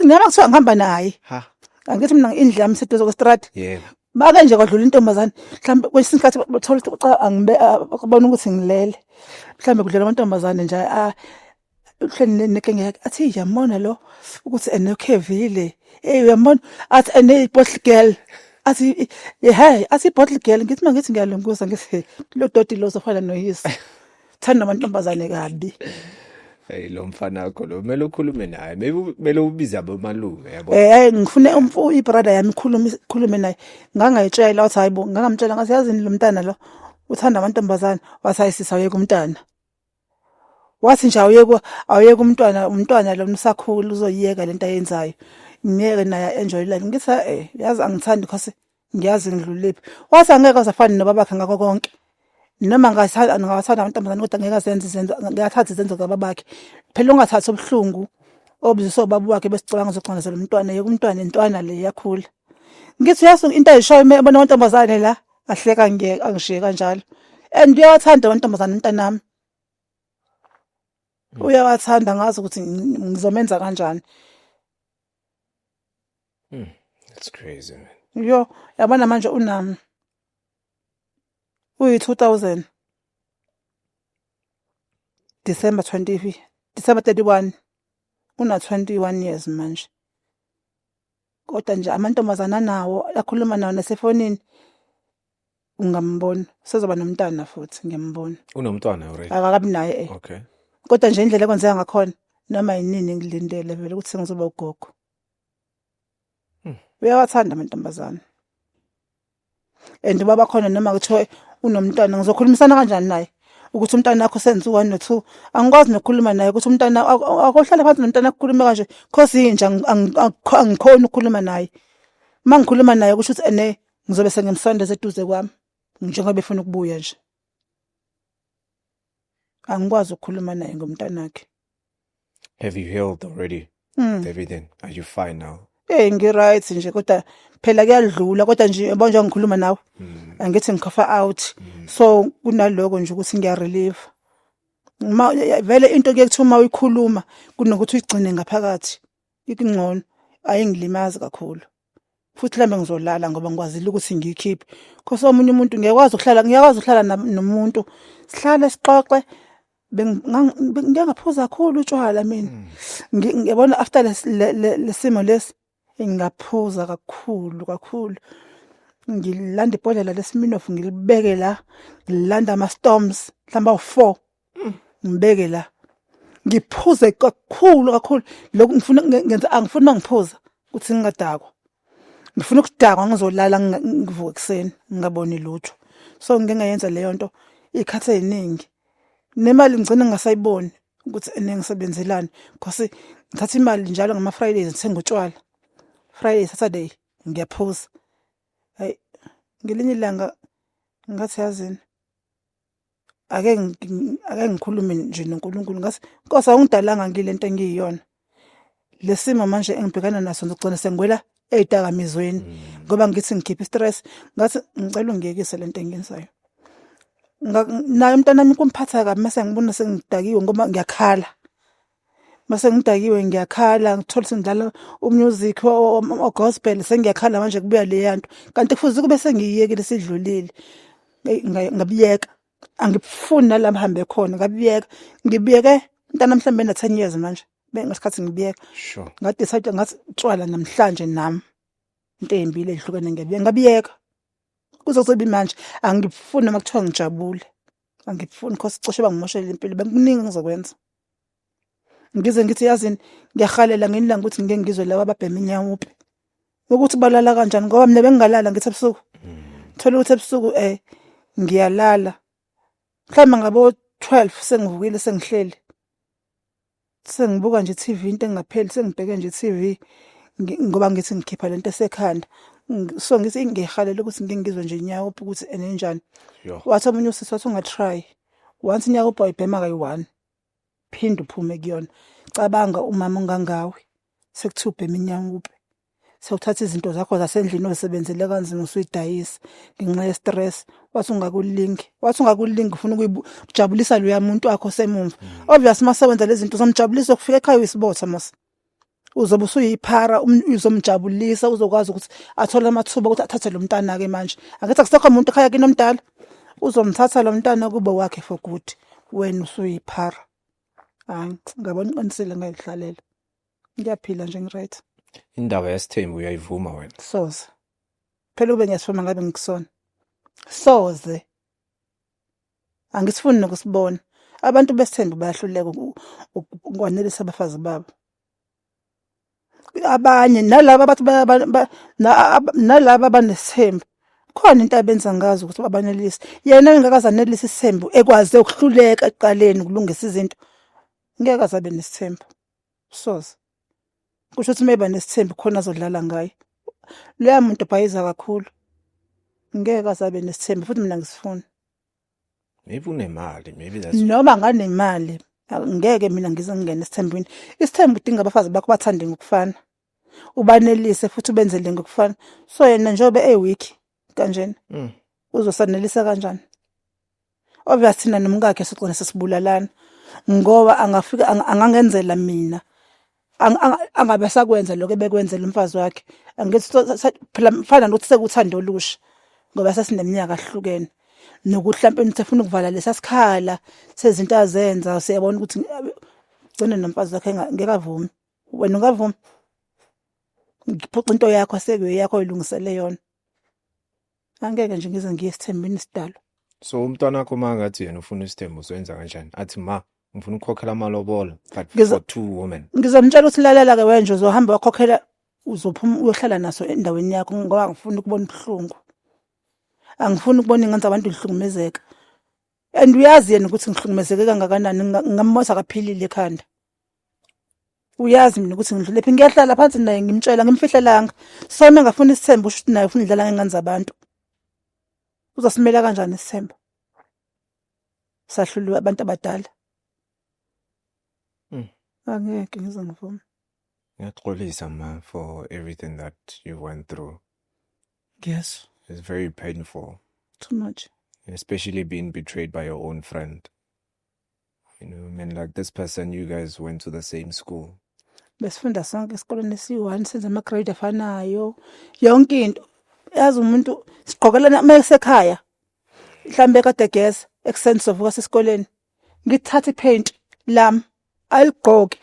B: Ngaba
A: kuthiwa ngihamba naye. Ha. Angithi mina indlela yami seduze kwestrad. Yebo. Make nje kwadlula intombazane mhlambe kwesinye isikhathi bathola ukuthi cha angibe babona ukuthi ngilele. Mhlambe kudlula amantombazane nje ah uhleni nekengeke athi yamona lo ukuthi enokhevile hey uyamona athi ene bottle girl athi hey athi bottle girl ngithi mangithi ngiyalunguza ngithi lo doti lo zofana noyise thanda amantombazane kabi Hey
B: lo mfana wakho lo kumele ukhulume naye maybe kumele ubize abomalume yabo eh hey, ngifune umfu
A: ibrother yami khulume khulume naye ngangayitshela wathi hayibo ngangamtshela ngathi yazini lo mntana lo uthanda amantombazane wathi hayisisa yeke umntana wathi nje awuyeke awuyeke umntwana umntwana lo msakhulu uzoyiyeka lento ayenzayo ngeke naye enjoy life ngithi eh yazi angithandi because ngiyazi ngidlulephi wathi angeke azafane nobabakhe ngakho konke noma ngathanda ngathanda amantombazane kodwa ngeke azenze izenzo ngiyathatha izenzo zababakhe phela ungathathi ubuhlungu obuziso babu wakhe besicabanga uzoxondazela umntwana yeke umntwana intwana le yakhula ngithi uyasuka into ayishoyo uma ebona amantombazane la ahleka ngiyeke angishiye kanjalo and uyawathanda amantombazane umntanami hmm. uyawathanda ngazi ukuthi ngizomenza kanjani hmm, that's
B: crazy man yo yabona
A: manje unami uyi 2000 December 20 December 31 una 21 years manje kodwa nje amantombazana nawo akhuluma nawo nasefonini ungambona sezoba nomntana futhi ngiyambona unomntwana already
B: akakabi naye eh
A: okay kodwa
B: nje indlela
A: ekwenzeka ngakhona noma yinini ngilindele vele ukuthi sengizoba ugogo hmm. uyawathanda amantombazana and uba bakhona noma kuthiwa unomntwana ngizokhulumisana kanjani naye ukuthi umntana wakho senza u-one no-two angikwazi nokukhuluma naye ukuthi umntana akohlale phansi nomntana akukhulume kanje cause yinja angikhoni ukukhuluma naye uma ngikhuluma naye kusho ukuthi ene ngizobe sengimsondeza eduze kwami njengoba efuna ukubuya nje angikwazi ukukhuluma naye ngomntanakhe
B: Have you healed already? Mm. David, then are you fine now? Eh ngiright nje
A: kodwa phela kuyadlula kodwa nje yabo nje ngikhuluma nawe. Mm. Angithi ngikhofa out. Mm. So kunaloko nje ukuthi ngiya relieve. Uma vele into kuyekuthiwa uma uyikhuluma kunokuthi uyigcine ngaphakathi. Ikungcono ayingilimazi kakhulu. futhi lambe ngizolala ngoba ngikwazile ukuthi ngiyikhiphe khosi omunye umuntu ngiyakwazi ukuhlala ngiyakwazi ukuhlala nomuntu sihlale sixoxe ngiyangaphuza kakhulu utshwala mina hmm. ngiyabona after lesimo lesi ngingaphuza kakhulu kakhulu ngilanda ibhodlela lesiminofu ngilibeke la ngilanda ama storms mhlamba u4 Mm, ngibeke la. Ngiphuze kakhulu kakhulu lokhu ngifuna ngenza angifuni mangiphuza ukuthi ngingadakwa. Ngifuna ukudakwa ngizolala ngivuke ekseni ngingaboni lutho. So ngike ngayenza leyo nto ikhathe eziningi. Nemali ngigcina ngasayiboni ukuthi enengisebenzelani because ngithatha imali njalo ngama Fridays ngithenga utshwala. Friday, Saturday ngiyaphuza. Hayi ngelinye ilanga ngathi yazini ake ake ngikhulume nje noNkulunkulu ngathi Nkosi awungidalanga ngile nto engiyiyona lesimo manje engibhekana naso ngigcina sengwela ezidakamizweni mm. ngoba ngithi ngikhipha stress ngathi ngicela ungiyekise lento engiyenzayo naye umntanami kumphatha kabi mase ngibona sengidakiwe ngoba ngiyakhala mase ngidakiwe ngiyakhala ngithola sengidlala umusic ogospel sengiyakhala manje kubuya leya nto kanti kufuze kube sengiyiyekile sidlulile ngabiyeka angifuni nala mhambe khona ngabiyeka ngibiyeke mntana mhlawumbe na 10 years manje bengasikhathi ngibiyeka sure ngadecide
B: ngathi
A: tshwala namhlanje nami into embi le ihlukene ngiyabiyeka ngabiyeka kuzosebi manje angifuni noma kuthiwa ngijabule angifuni cause cishe bangimoshela impilo bekuningi ngizokwenza ngize ngithi yazini ngiyahalela nginilanga ukuthi ngike ngizwe laba ababhema inyawupe ukuthi balala kanjani ngoba mina bengingalala ngithi ebusuku thola ukuthi ebusuku eh ngiyalala mhlawumbe ngabo 12 sengivukile sengihleli sengibuka nje TV into engapheli sengibheke nje TV ngoba ngithi ngikhipha lento esekhanda so ngithi ngihalela ukuthi ngingizwe nje nyawo ukuthi enenjani wathi omunye usisi wathi unga try once nyawo boy bhema kayi one phinde uphume kuyona cabanga umama ongangawe sekuthiwa ubhema inyanga uphi sewuthatha izinto zakho zasendlini ozisebenzele kanzima usuyidayisa ngenxa ye-stress wathi ungakulingi wathi ungakulingi ufuna ukujabulisa loya muntu wakho semumva mm. obvious uma sewenza lezi zinto uzomjabulisa ukufika ekhaya uyisibotha mos uzobe usuyiphara um-, uzomjabulisa uzokwazi ukuthi athole amathuba ukuthi athathe lo mntana-ke manje angithi akusekho muntu ekhaya kinomdala uzomthatha lo mntana kube wakhe for good wena usuyiphara hayi ngabona uqinisile ngayidlalela ngiyaphila nje ngiright indaba yasithembu
B: uyayivuma wena soze
A: phela ube ngiyasifuma ngabe ngikusona soze angisifuni nokusibona abantu besithembu bayahluleka ukwanelisa abafazi babo abanye nalaba bathi nalaba abanesithembu khona into abenza ngazo ukuthi babanelise yena engakaze anelise isithembu ekwaze ukuhluleka ekuqaleni ukulungisa izinto ngeke azabe nesithembu soze kusho ukuthi uma eba nesithembu khona azodlala ngaye loya muntu ubhayiza kakhulu ngeke azabe nesithembu futhi mina ngisifuna
B: maybe unemali maybe that's noma nganemali
A: a- ngeke mina ngize ngingene esithembwini isithembu udinga abafazi bakho bathande ngokufana ubanelise futhi ubenzele ngokufana so yena njengoba eweak kanjena Mm. uzosanelisa kanjani obvious thina nomkakhe sigcina sesibulalana ngoba angafika ang- angangenzela mina angabe sakwenza lokho ebekwenzela umfazi wakhe angithi phela mfana nokuthi sekuthanda olusha ngoba sesineminyaka ahlukene nokuthi mhlawumbe umuntu efuna ukuvala lesa sikhala sezinto azenza siyabona ukuthi ugcine nomfazi wakhe ngeke avumi wena ungavumi ngiphuca into yakho sekuyo yakho ilungisele yona angeke nje ngize ngiye esithembini sidalo so umntwana wakho
B: uma ngathi yena ufuna isithembu soyenza kanjani athi ma ngifuna ukukhokhela amalobolo but Ngizo- for two women ngizomtshela ukuthi lalela-ke
A: wenje uzohamba wakhokhela uzophuma uyohlala naso endaweni yakho ngoba angifuni ukubona ubuhlungu angifuni ukubona ingenza abantu ngihlukumezeka and uyazi yena ukuthi ngihlukumezeke kangakanani Nga- ngammosa kaphilile ekhanda uyazi mina ukuthi ngidlule phi ngiyahlala phansi naye ngimtshela ngimfihlelanga sona ngafuna isithembu usho ukuthi naye ufuna idlala ngengane zabantu uzosimela kanjani isithembu sahluliwe abantu abadala mm. angeke ngize ngivume ngiyaxolisa
B: ma for everything that you went through yes
A: it's very
B: painful too much
A: especially being
B: betrayed by your own friend you know, I mean, like this person, you guys went to the same school. besifunda
A: sonke esikoleni esiyi-one senza ama-grade afanayo yonke into yazi umuntu sigqokelana uma esekhaya mhlawumbe kade egeza ekuseni sizovuka sesikoleni ngithathe iphenti lami aligqoke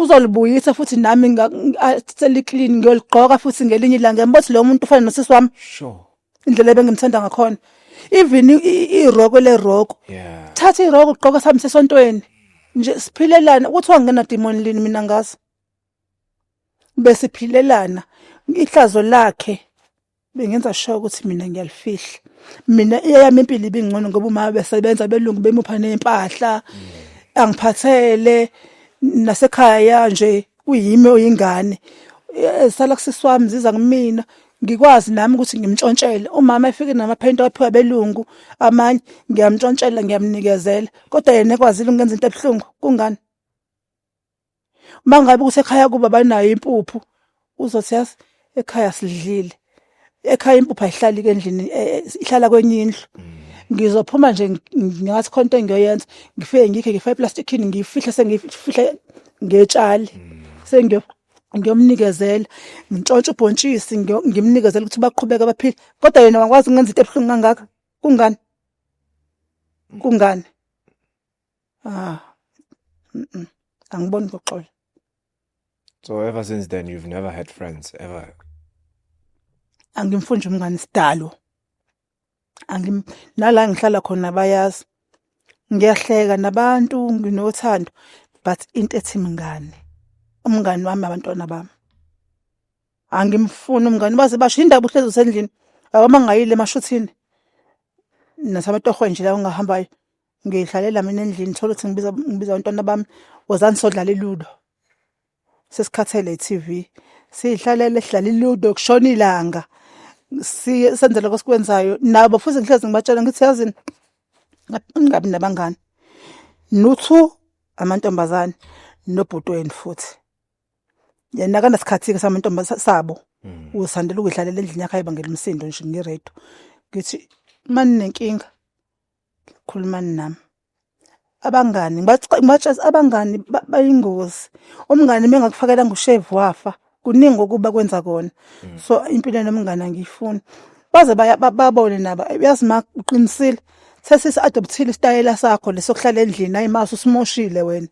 A: uzolibuyisa futhi nami nga- nga- seliclean ngiyoligqoka futhi ngelinye ilanga ngiyambona ukuthi lo muntu ufana nosisi wami Sure. indlela
B: ebengimthanda
A: ngakhona even iroko le roko yeah thatha iroko
B: ugqoka sami
A: sesontweni nje siphilelana kuthiwa ngena demon lini mina ngazi bese philelana ihlazo lakhe bengenza sure ukuthi mina ngiyalifihla mina eyami impilo ibingcono ngoba uma besebenza belungu bemupha nempahla mm. angiphathele nasekhaya nje kuyimi oyingane eh, sala kusisi wami ziza kumina ngikwazi nami ukuthi ngimtshontshele umama efike namaphenti aphiwa belungu amanye ngiyamtshontshela ngiyamnikezela kodwa yena ekwazile ukungenza into ebuhlungu kungani uma ngabe ukuthi ekhaya kuba banayo impuphu uzothi yazi ekhaya sidlile ekhaya impupha ihlali kendlini eh, eh, ihlala kwenye indlu ngizophuma nje ngathi khona into engiyoyenza ngifike ngikhe ngifa iplastic in ngifihle sengifihle ngetshali sengiyo ngiyomnikezela ngintshontshe ubhontshisi ngiyo- ngimnikezela ukuthi baqhubeke abaphile kodwa yena wakwazi ukungenza into ebuhlungu kangaka kungani kungani Ah. Mm -mm. Angiboni kuxola.
B: So ever since then you've never had friends ever. Angimfunje
A: umngani sidalo. Angim nala ngihlala khona bayazi. Ngiyahleka nabantu nginothando but into ethi mngani. Umngani wami abantwana bami. Angimfuni umngani baze basho indaba uhlezi usendlini. Awamangayile emashuthini. Nasamatohwe nje la ungahambayo. ngihlalela mina endlini thola ukuthi ngibiza ngibiza abantwana bami wozani sodlala iludo sesikhathele i-TV sihlalele sidlala iludo kushona ilanga senzele kosikwenzayo nabo futhi ngihlezi ngibatshela ngithi yazini ngingabi nabangani nuthu amantombazane nobhuti wenu futhi yena akanasikhathi-ke samantombazane sabo hmm. usandela ukuyidlalela endlini yakhe ayibangela umsindo nje ngiredo ngithi uma ninenkinga khulumani nami abangani ngibatshela abangani bayingozi umngani mengakufakela ngushevu wafa kuningi okuba kwenza kona mm. so impilo nomngani angiyifuni baze babone nabo uyazi ma uqinisile sesisi adoptile isitayela sakho lesokuhlala endlini ayi maso simoshile wena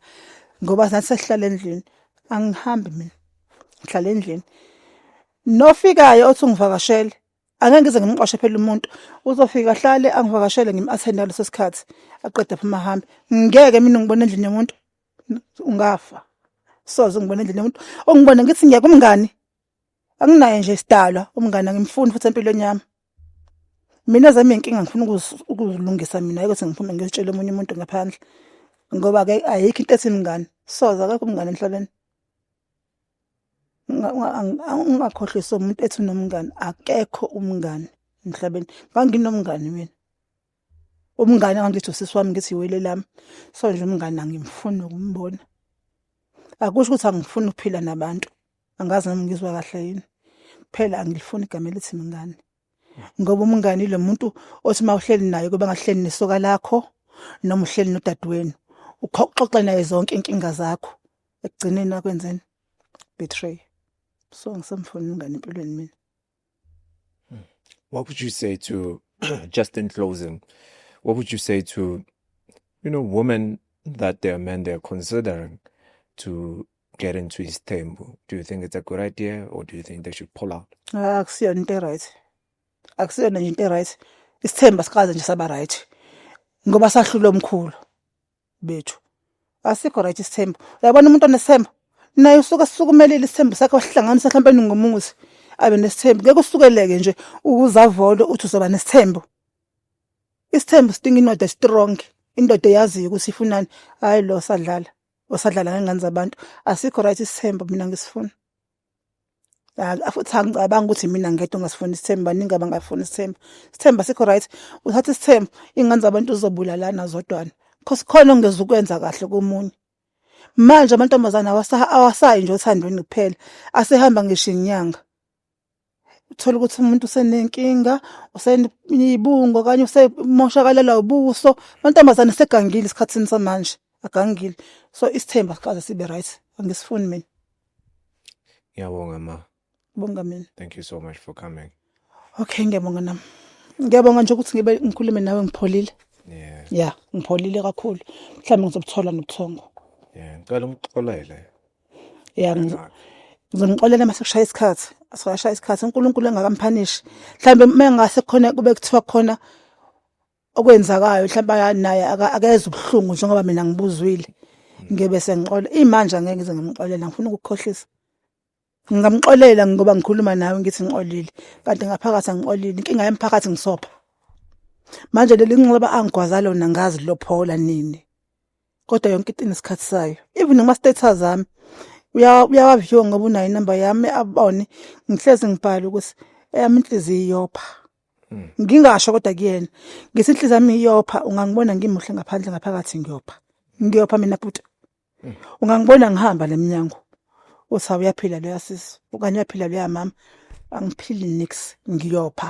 A: ngoba nathi sesihlala endlini angihambi mina ngihlala endlini nofikayo othi ungivakashele Angeke ngize ngimqoshe phela umuntu uzofika ahlale angivakashele ngim-athenda leso sikhathi aqeda phuma ahambe ngeke mina ngibona endlini yomuntu ungafa soze ngibona endlini yomuntu ongibona ngithi ngiyeka umngani anginaye nje isidalwa umngani angimfuni futhi empilweni yami mina zami inkinga ngifuna ukuzilungisa mina ukuthi ngiphume ngiyotshela omunye umuntu ngaphandle ngoba ke ayikho into ethi mngani soze akekho umngani emhlabeni ungakhohlisa umuntu ethi unomngani akekho umngani emhlabeni nganginomngani mina umngane wangithi usisi wami ngithi iwele lami so nje umngane angimfuni ukumbona akusho ukuthi angifuni ukuphila nabantu angazi nami ngizwa kahle yini phela angilifuni igama elithi mngane ngoba umngani lo muntu othi uma uhleli naye kuba ngahleli nesoka lakho noma uhleli nodadewenu uxoxe naye zonke inkinga zakho ekugcineni akwenzeni betray so ngisamfuni umngani empilweni mina hmm.
B: what would you say to just in closing what would you say to you know women that their men they're considering to get into isithembu do you think it's a good idea or do you think they should pull out ah, akusiyona into
A: right akusiyona nje into right isithemba sikaze nje saba right ngoba sahlula omkhulu bethu asikho right isithembu uyabona umuntu onesithembu naye usuke sukumelile isithembu sakhe wahlanganisa mhlawumbe ningomuzi abe nesithembu ngeke usukeleke nje ukuzavolo uthi uzoba nesithembu isithembu sidinga indoda strong indoda eyaziyo ukuthi ifunani hayi lo sadlala osadlala ngengane zabantu asikho right isithemba mina ngisifuna futhi angicabanga ukuthi mina ngedwa ongasifuni isithemba baningi abangafuni isithemba isithemba sikho right uthatha isithemba iy'ngane zabantu zizobulalana zodwana cause khona ongeza ukwenza kahle komunye manje amantombazane awasayi nje othandweni kuphela asehamba ngisho inyanga uthola ukuthi umuntu usenenkinga usenibungo okanye usemoshakalelwa ubuso mantombazane segangile isikhathini samanje agangile so isithemba sikaze sibe right angisifuni mina
B: ngiyabonga ma bonga mina
A: thank you so much for
B: coming okay ngiyabonga
A: nami ngiyabonga nje ukuthi ngibe ngikhulume nawe ngipholile yeah yeah
B: ngipholile
A: kakhulu mhlawumbe ngizobuthola nobuthongo yeah ngicela
B: ungixolele ya
A: ngizonixolela uma sekushaya isikhathi asashaya isikhathi uNkulunkulu engakamphanishi mhlawumbe uma engase khona kube kuthiwa khona okwenzakayo mhlawumbe naye akeze ubuhlungu njengoba mina ngibuzwile ngebe sengixola imanje angeke ngize ngimxolela ngifuna ukukhohlisa ngingamxolela ngoba ngikhuluma nawe ngithi ngixolile kanti ngaphakathi angixolile inkinga yemphakathi ngisopha manje leli nxeba angigwaza lona ngazi lophola nini kodwa yonke into inesikhathi sayo even kuma status ami uyawaview ngoba unayo inamba yami abone ngihlezi ngibhala ukuthi eyami inhliziyo iyopha hmm. ngingasho kodwa kuyena ngithi inhliziyo yami iyopha ungangibona ngimuhle ngaphandle ngaphakathi ngiyopha ngiyopha mina bhuti hmm. ungangibona ngihamba lemnyango uthi awuyaphila loya sisi okanye uyaphila loya mama angiphili nix ngiyopha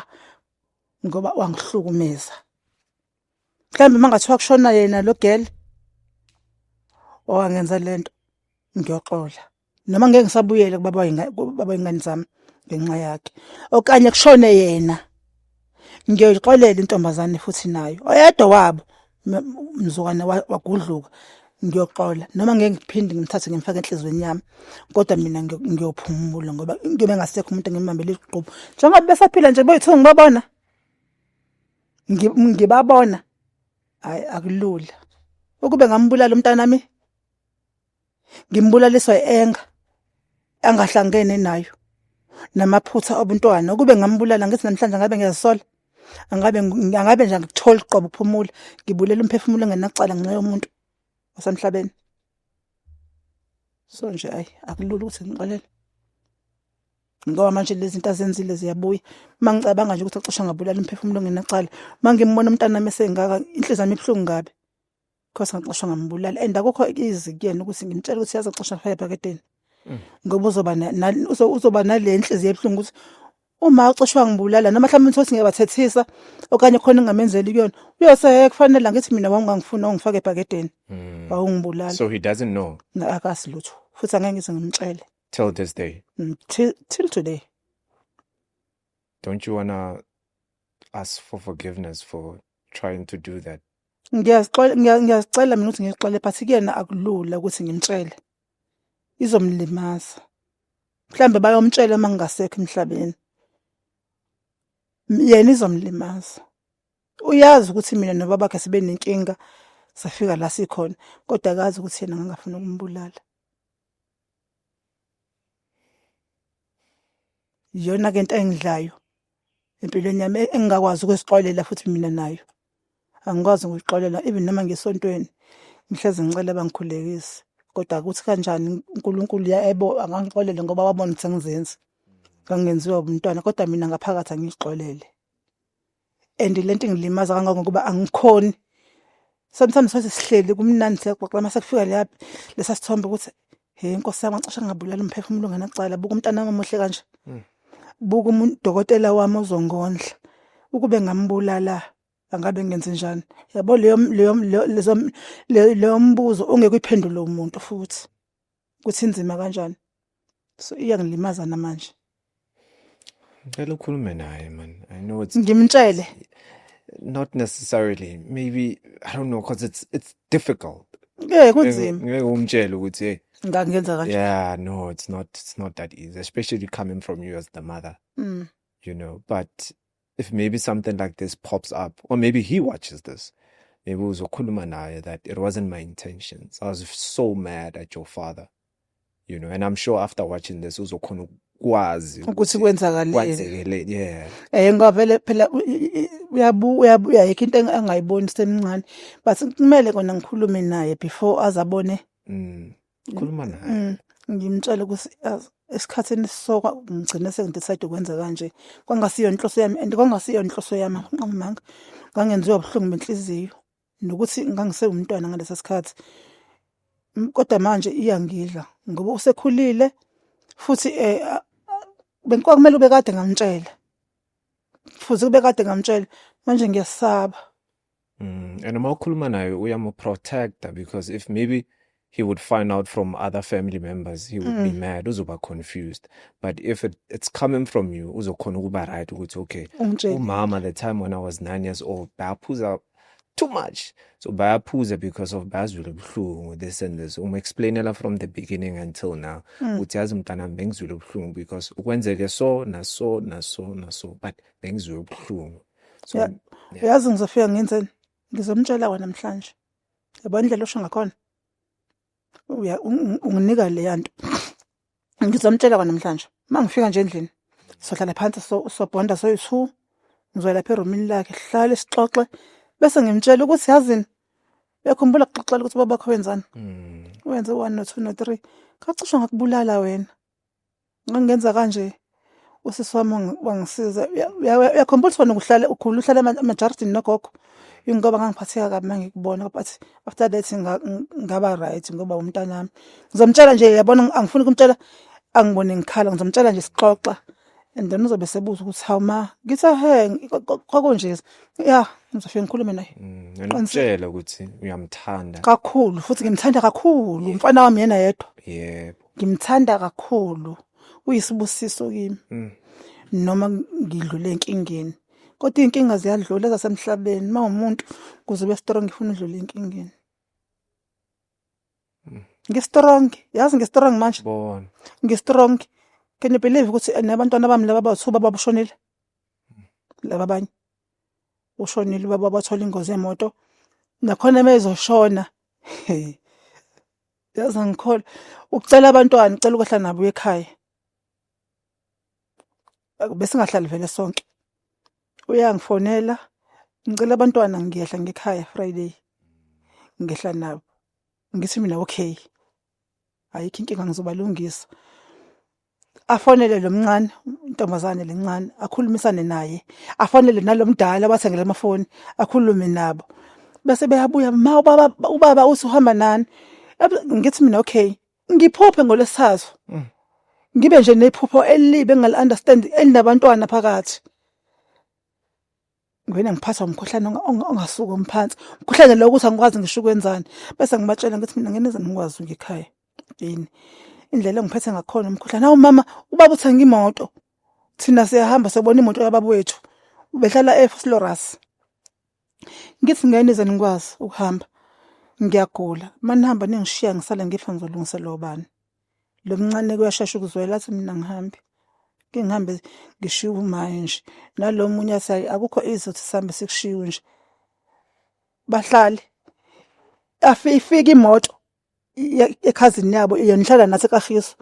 A: ngoba wangihlukumeza mhlawumbe uma ngathiwa kushona yena lo girl owangenza le nto ngiyoxola noma ngeke ngisabuyele kubaba baba ingane zami ngenxa yakhe okanye kushone yena ngiyoyixolela intombazane futhi nayo oyedwa wabo mzukwane wagudluka ngiyoxola noma ngeke ngiphinde ngimthathe ngimfake enhlizweni yami kodwa mina ngiyophumula ngoba into bengasekho umuntu engimbambele iqhubu njengoba besaphila nje boyithu ngibabona ngibabona hayi akulula ukube ngambulala umntana mi ngimbulaliswa enga angahlangene nayo namaphutha obuntwana ukube ngambulala ngithi namhlanje ngabe ngiyasola angabe angabe nje ngithola uqobo phumula ngibulela umphefumulo engenacala ngenxa yomuntu osemhlabeni so nje ayi akulula ukuthi ngixolele ngoba manje lezi zinto azenzile ziyabuya uma ngicabanga nje ukuthi acishe ngabulala umphefumulo ongenacala uma ngimbona umntana nami esengaka inhliziyo yami ibuhlungu kabi because ngacishe ngambulala and akukho izi kuyena ukuthi ngimtshela ukuthi yazi acishe afaya ebhakedeni mm. ngoba uzoba uzoba nale nhliziyo ebuhlungu ukuthi uma ucishwa ngibulala noma mhlawumbe uthi ukuthi ngiyabathethisa okanye khona engamenzeli kuyona uyose kufanele ngithi mina wawungangifuni ongifake ebhakedeni mm. wawungibulala so he doesn't
B: know akasilutho
A: futhi angeke ngize ngimtshele till this day
B: Mm, till, till today don't you wanna ask for forgiveness for trying to do that ngiyazixola ngiya-
A: ngiyazicela mina ukuthi ngixole but kuyena akulula ukuthi ngimtshele izomlimaza mhlambe bayomtshela uma ngingasekho emhlabeni M- yena izomlimaza uyazi ukuthi mina nobabakhe sibe nenkinga safika la sikhona kodwa akazi ukuthi yena ngangafuna ukumbulala iyona ke into engidlayo empilweni yami engingakwazi ukusixolela futhi mina nayo angikwazi ngikuxolela even noma ngesontweni ngihlezi ngicela bangikhulekise kodwa ukuthi kanjani uNkulunkulu yebo angangixolele ngoba wabona ukuthi ngizenza ngangenziwa umntwana kodwa mina ngaphakathi angixolele and le nto ingilimaza kangangokuba angikhoni sometimes soze sihleli kumnandi siyaxoxa uma sekufika leyaphi lesa sithombe ukuthi he nkosi yami ngisho ngabulala umphefumulo ngenacala buka umntana wami omuhle kanje hmm. buka umuntu dokotela wami ozongondla ukube ngambulala angabe ngenze njani yabo leyo leyo leyo mbuzo ongeke uyiphendule umuntu futhi ukuthi inzima kanjani so iyangilimaza namanje
B: ngicela ukhulume naye man i know it's ngimtshele
A: not
B: necessarily maybe i don't know because it's it's difficult yeah kunzima
A: ngeke umtshele
B: ukuthi hey ngangenza kanje yeah
A: no it's not
B: it's not that easy especially coming from you as the mother mm. you know but if maybe something like this pops up or maybe he watches this maybe uzokhuluma naye that it wasn't my intentions i was so mad at your father you know and i'm sure after watching this uzokhona ukwazi ukuthi
A: kwenzakaleni
B: yeah eh ngoba vele phela
A: uyabu uyabuya yekho into angayiboni semncane but kumele kona ngikhulume naye before azabone mm.
B: khuluma naye Mm, ngimtshela ukuthi
A: yazi, esikhathini soka ngigcine sengidecide ukwenza kanje kwangasiyo inhloso yami and kwangasiyo inhloso yami ngamanga ngangenziwa ubuhlungu benhliziyo nokuthi ngangisewumntwana ngalesa sikhathi M- kodwa manje iyangidla ngoba usekhulile futhi eh, a- a- bengikwak- kumele ube kade ngamtshela futhi kube kade ngamtshela manje ngiyasaba Mm,
B: and uma ukhuluma naye uyamuprotecta because if maybe he would find out from other family members he would mm. be mad uzoba confused but if it, it's coming from you uzokhona ukuba right ukuthi okay umama the
A: time when i
B: was 9 years old bayaphuza too much so bayaphuza because of bazwile ubuhlungu this and this um explainela from the beginning until now mm. uthi yazi mntana bengizwile ubuhlungu because ukwenzeke so naso naso naso but bengizwile ubuhlungu so yeah. Yeah. yazi
A: ngizofika ngenzeni ngizomtshela wena namhlanje yabo indlela osho ngakhona uya unginika leya nto ngizomtshela wena namhlanje uma ngifika nje endlini sohlala phansi sobhonda soyi-two ngizoya lapha erumini lakhe hlale sixoxe bese ngimtshela ukuthi yazini uyakhumbula kuxoxela ukuthi babakho wenzani mm. wenze one no two no three kacishwa ngakubulala wena ngangenza kanje usisi wami wangisiza uyakhombula ukuthi wena ukuhlale ukhula uhlale emajaridini nogogo ingoba ngangiphatheka kabi uma ngikubona but after that ngaba right ngoba umntanami ngizomtshela nje yabona angifuni kumtshela angibone ngikhala ngizomtshela nje sixoxa and then uzobe sebuza ukuthi hawu ma ngithi he kwakunje ya ngizofike ngikhulume naye ngimtshela mm,
B: ukuthi uyamthanda kakhulu futhi
A: ngimthanda kakhulu umfana wami yena yedwa yebo
B: ngimthanda
A: kakhulu uyisibusiso kimi mm. noma ngidlule enkingeni kodwa inkinga ziyadlula zasemhlabeni mawumuntu kuze ube strong ngifuna udlule enkingeni mm. ngistrong yazi ngistrong manje bona
B: ngistrong
A: can you believe ukuthi nabantwana bami laba bathu baba bushonile mm. laba abanye ushonile baba bathola ingozi yemoto nakhona uma ezoshona yazi angikholwa ucela abantwana ucela ukwehla nabo uye ekhaya besingahlali vele sonke uyangifonela ngicela abantwana ngiyehla ngekhaya friday ngehla nabo ngithi mina okay ayikho inkinga ngizobalungisa afonele lo mncane intombazane lencane akhulumisane naye afonele nalomdala wathengela amafoni akhulume nabo bese beyabuya ma ubaba ubaba uthi uhamba nani Ebe- ngithi mina okay ngiphuphe ngolesithathu Mm. ngibe nje nephupho elibi engal understand elinabantwana phakathi ngivele ngiphathwa umkhuhlane ongasuka umphansi umkhuhlane lo ukuthi angikwazi ngisho ukwenzani bese ngibatshela ngithi mina ngene zani ngikwazi ngikhaya yini indlela engiphethe ngakhona umkhuhlane awu mama ubaba uthenga imoto thina siyahamba sobona imoto yababa wethu ubehlala eFlorus ngithi ngene zani ngikwazi ukuhamba ngiyagula manihamba ningishiya ngisale ngifa ngizolungisela obani lo mncane kuyashesha ukuzwela athi mina ngihambe ke ngihambe ngishiwe umaye nje nalo munye athi akukho izothi sihambe sikushiwe nje bahlale afike imoto ekhazini yabo yonihlala nathi kafiso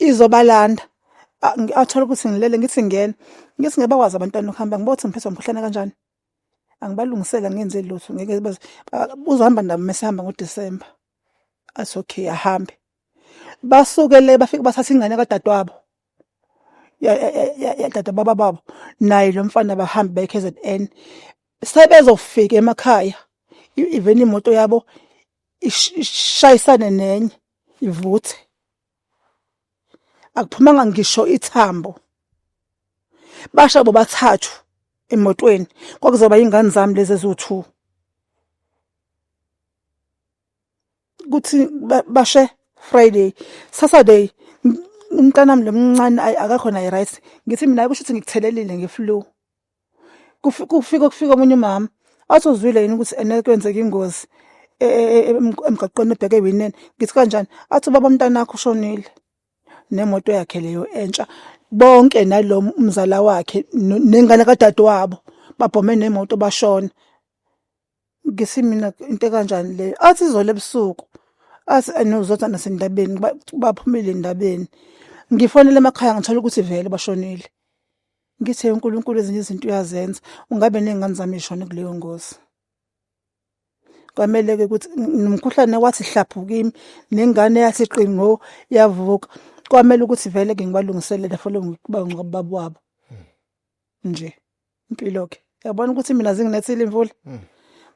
A: izobalanda athola ukuthi ngilele ngithi ngena ngithi ngeke bakwazi abantwana ukuhamba ngibothi ngiphethwe umkhuhlane kanjani angibalungisela ngenze lutho ngeke uzohamba nabo mesihamba ngoDisemba athi okay ahambe basuke le bafike bathatha ingane kadadewabo yadada baba babo naye lo mfana bahambe baye KZN sebezofika emakhaya even imoto yabo ishayisane nenye ivuthe akuphumanga ngisho ithambo basha bobathathu emotweni kwakuzoba ingane zami lezi eziwu-two kuthi bashe friday saturday umntanami lo mncane ayi akakhona i-right ngithi mina kusho ukuthi ngikuthelelile nge-flu kufika kufika omunye umama wathi uzwile yini ukuthi ene kwenzeka ingozi e, e, e, emgaqweni ebheke ewineni ngithi kanjani athi ubaba mntanakho ushonile nemoto yakhe leyo entsha bonke nalo umzala wakhe nengane kadadewabo babhome nemoto bashona ngisi mina into ekanjani leyo athi izolo ebusuku athi anozothi anasendabeni baphumile endabeni ngifonele emakhaya ngithola ukuthi vele bashonile ngithe uNkulunkulu ezinye izinto uyazenza ungabe nezingane zami ishone kuleyo ngozi kwamele ke ukuthi nomkhuhlane wathi hlaphu kimi nengane yathi qingo yavuka kwamele ukuthi vele ke ngibalungiselele for lo ngikuba ngibaba wabo nje impilo ke yabona ukuthi mina zinginethile imvula hmm.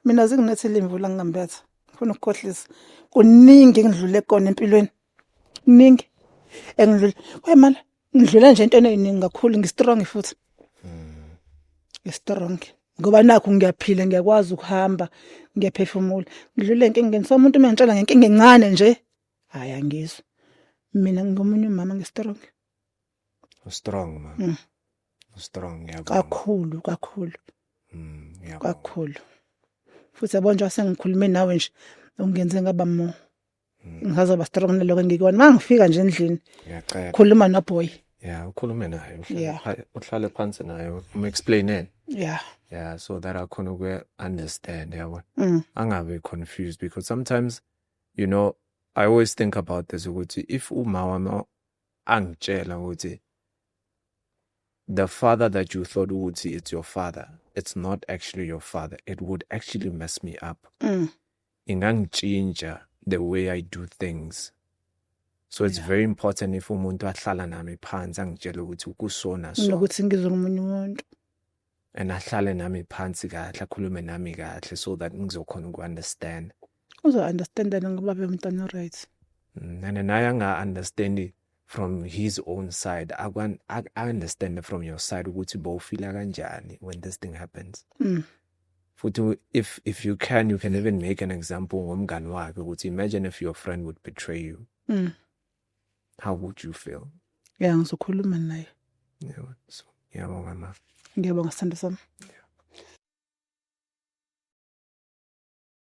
A: mina zinginethile imvula ngingambetha ngifuna ukukhohlisa kuningi engidlule kona empilweni kuningi engidlule wemala ngidlula nje into eningi kakhulu ngistrong futhi hmm. ngistrong ngoba nakho ngiyaphila ngiyakwazi ukuhamba ngiyaphefumula ngidlule enkingeni so umuntu uma ngitshela ngenkinga encane nje hayi angizwa mina ngingomunye umama ngistrong
B: ustrong mama mm. ustrong ngiyabonga kakhulu kakhulu
A: mm ngiyabonga
B: kakhulu
A: futhi yabona nje sengikhulume nawe nje ungenze ngaba mo mm. ngisazoba strong naloko engikona mangifika nje endlini ngiyacela khuluma no
B: boy
A: yeah ukhulume
B: naye uhlale
A: phansi
B: naye um explaineni yeah yeah
A: so that i
B: can understand yabona mm. angabe
A: confused
B: because sometimes you know i always think about this ukuthi if uma wami angitshela ukuthi the father that you thought ukuthi it's your father it's not actually your father it would actually mess me up mm. ingangitshintsha the way i do things so it's yeah. very important if umuntu ahlala nami phansi angitshele ukuthi ukusona so nokuthi ngizwe umunye
A: umuntu and
B: ahlale nami phansi kahle akhulume nami kahle so that ngizokhona uku-understand uzo-understanda
A: ngoba bemntwana right mm, and naye
B: anga-understandi from his own side aku-understand from your side ukuthi bowufila kanjani when this thing happens mm. futhi if if you can you can even make an example ngomngani wakhe ukuthi imagine if your friend would betray you mm. how would you feel ya ngizokhuluma naye yebo so
A: ngiyabonga
B: ma
A: ngiyabonga sithando
B: sami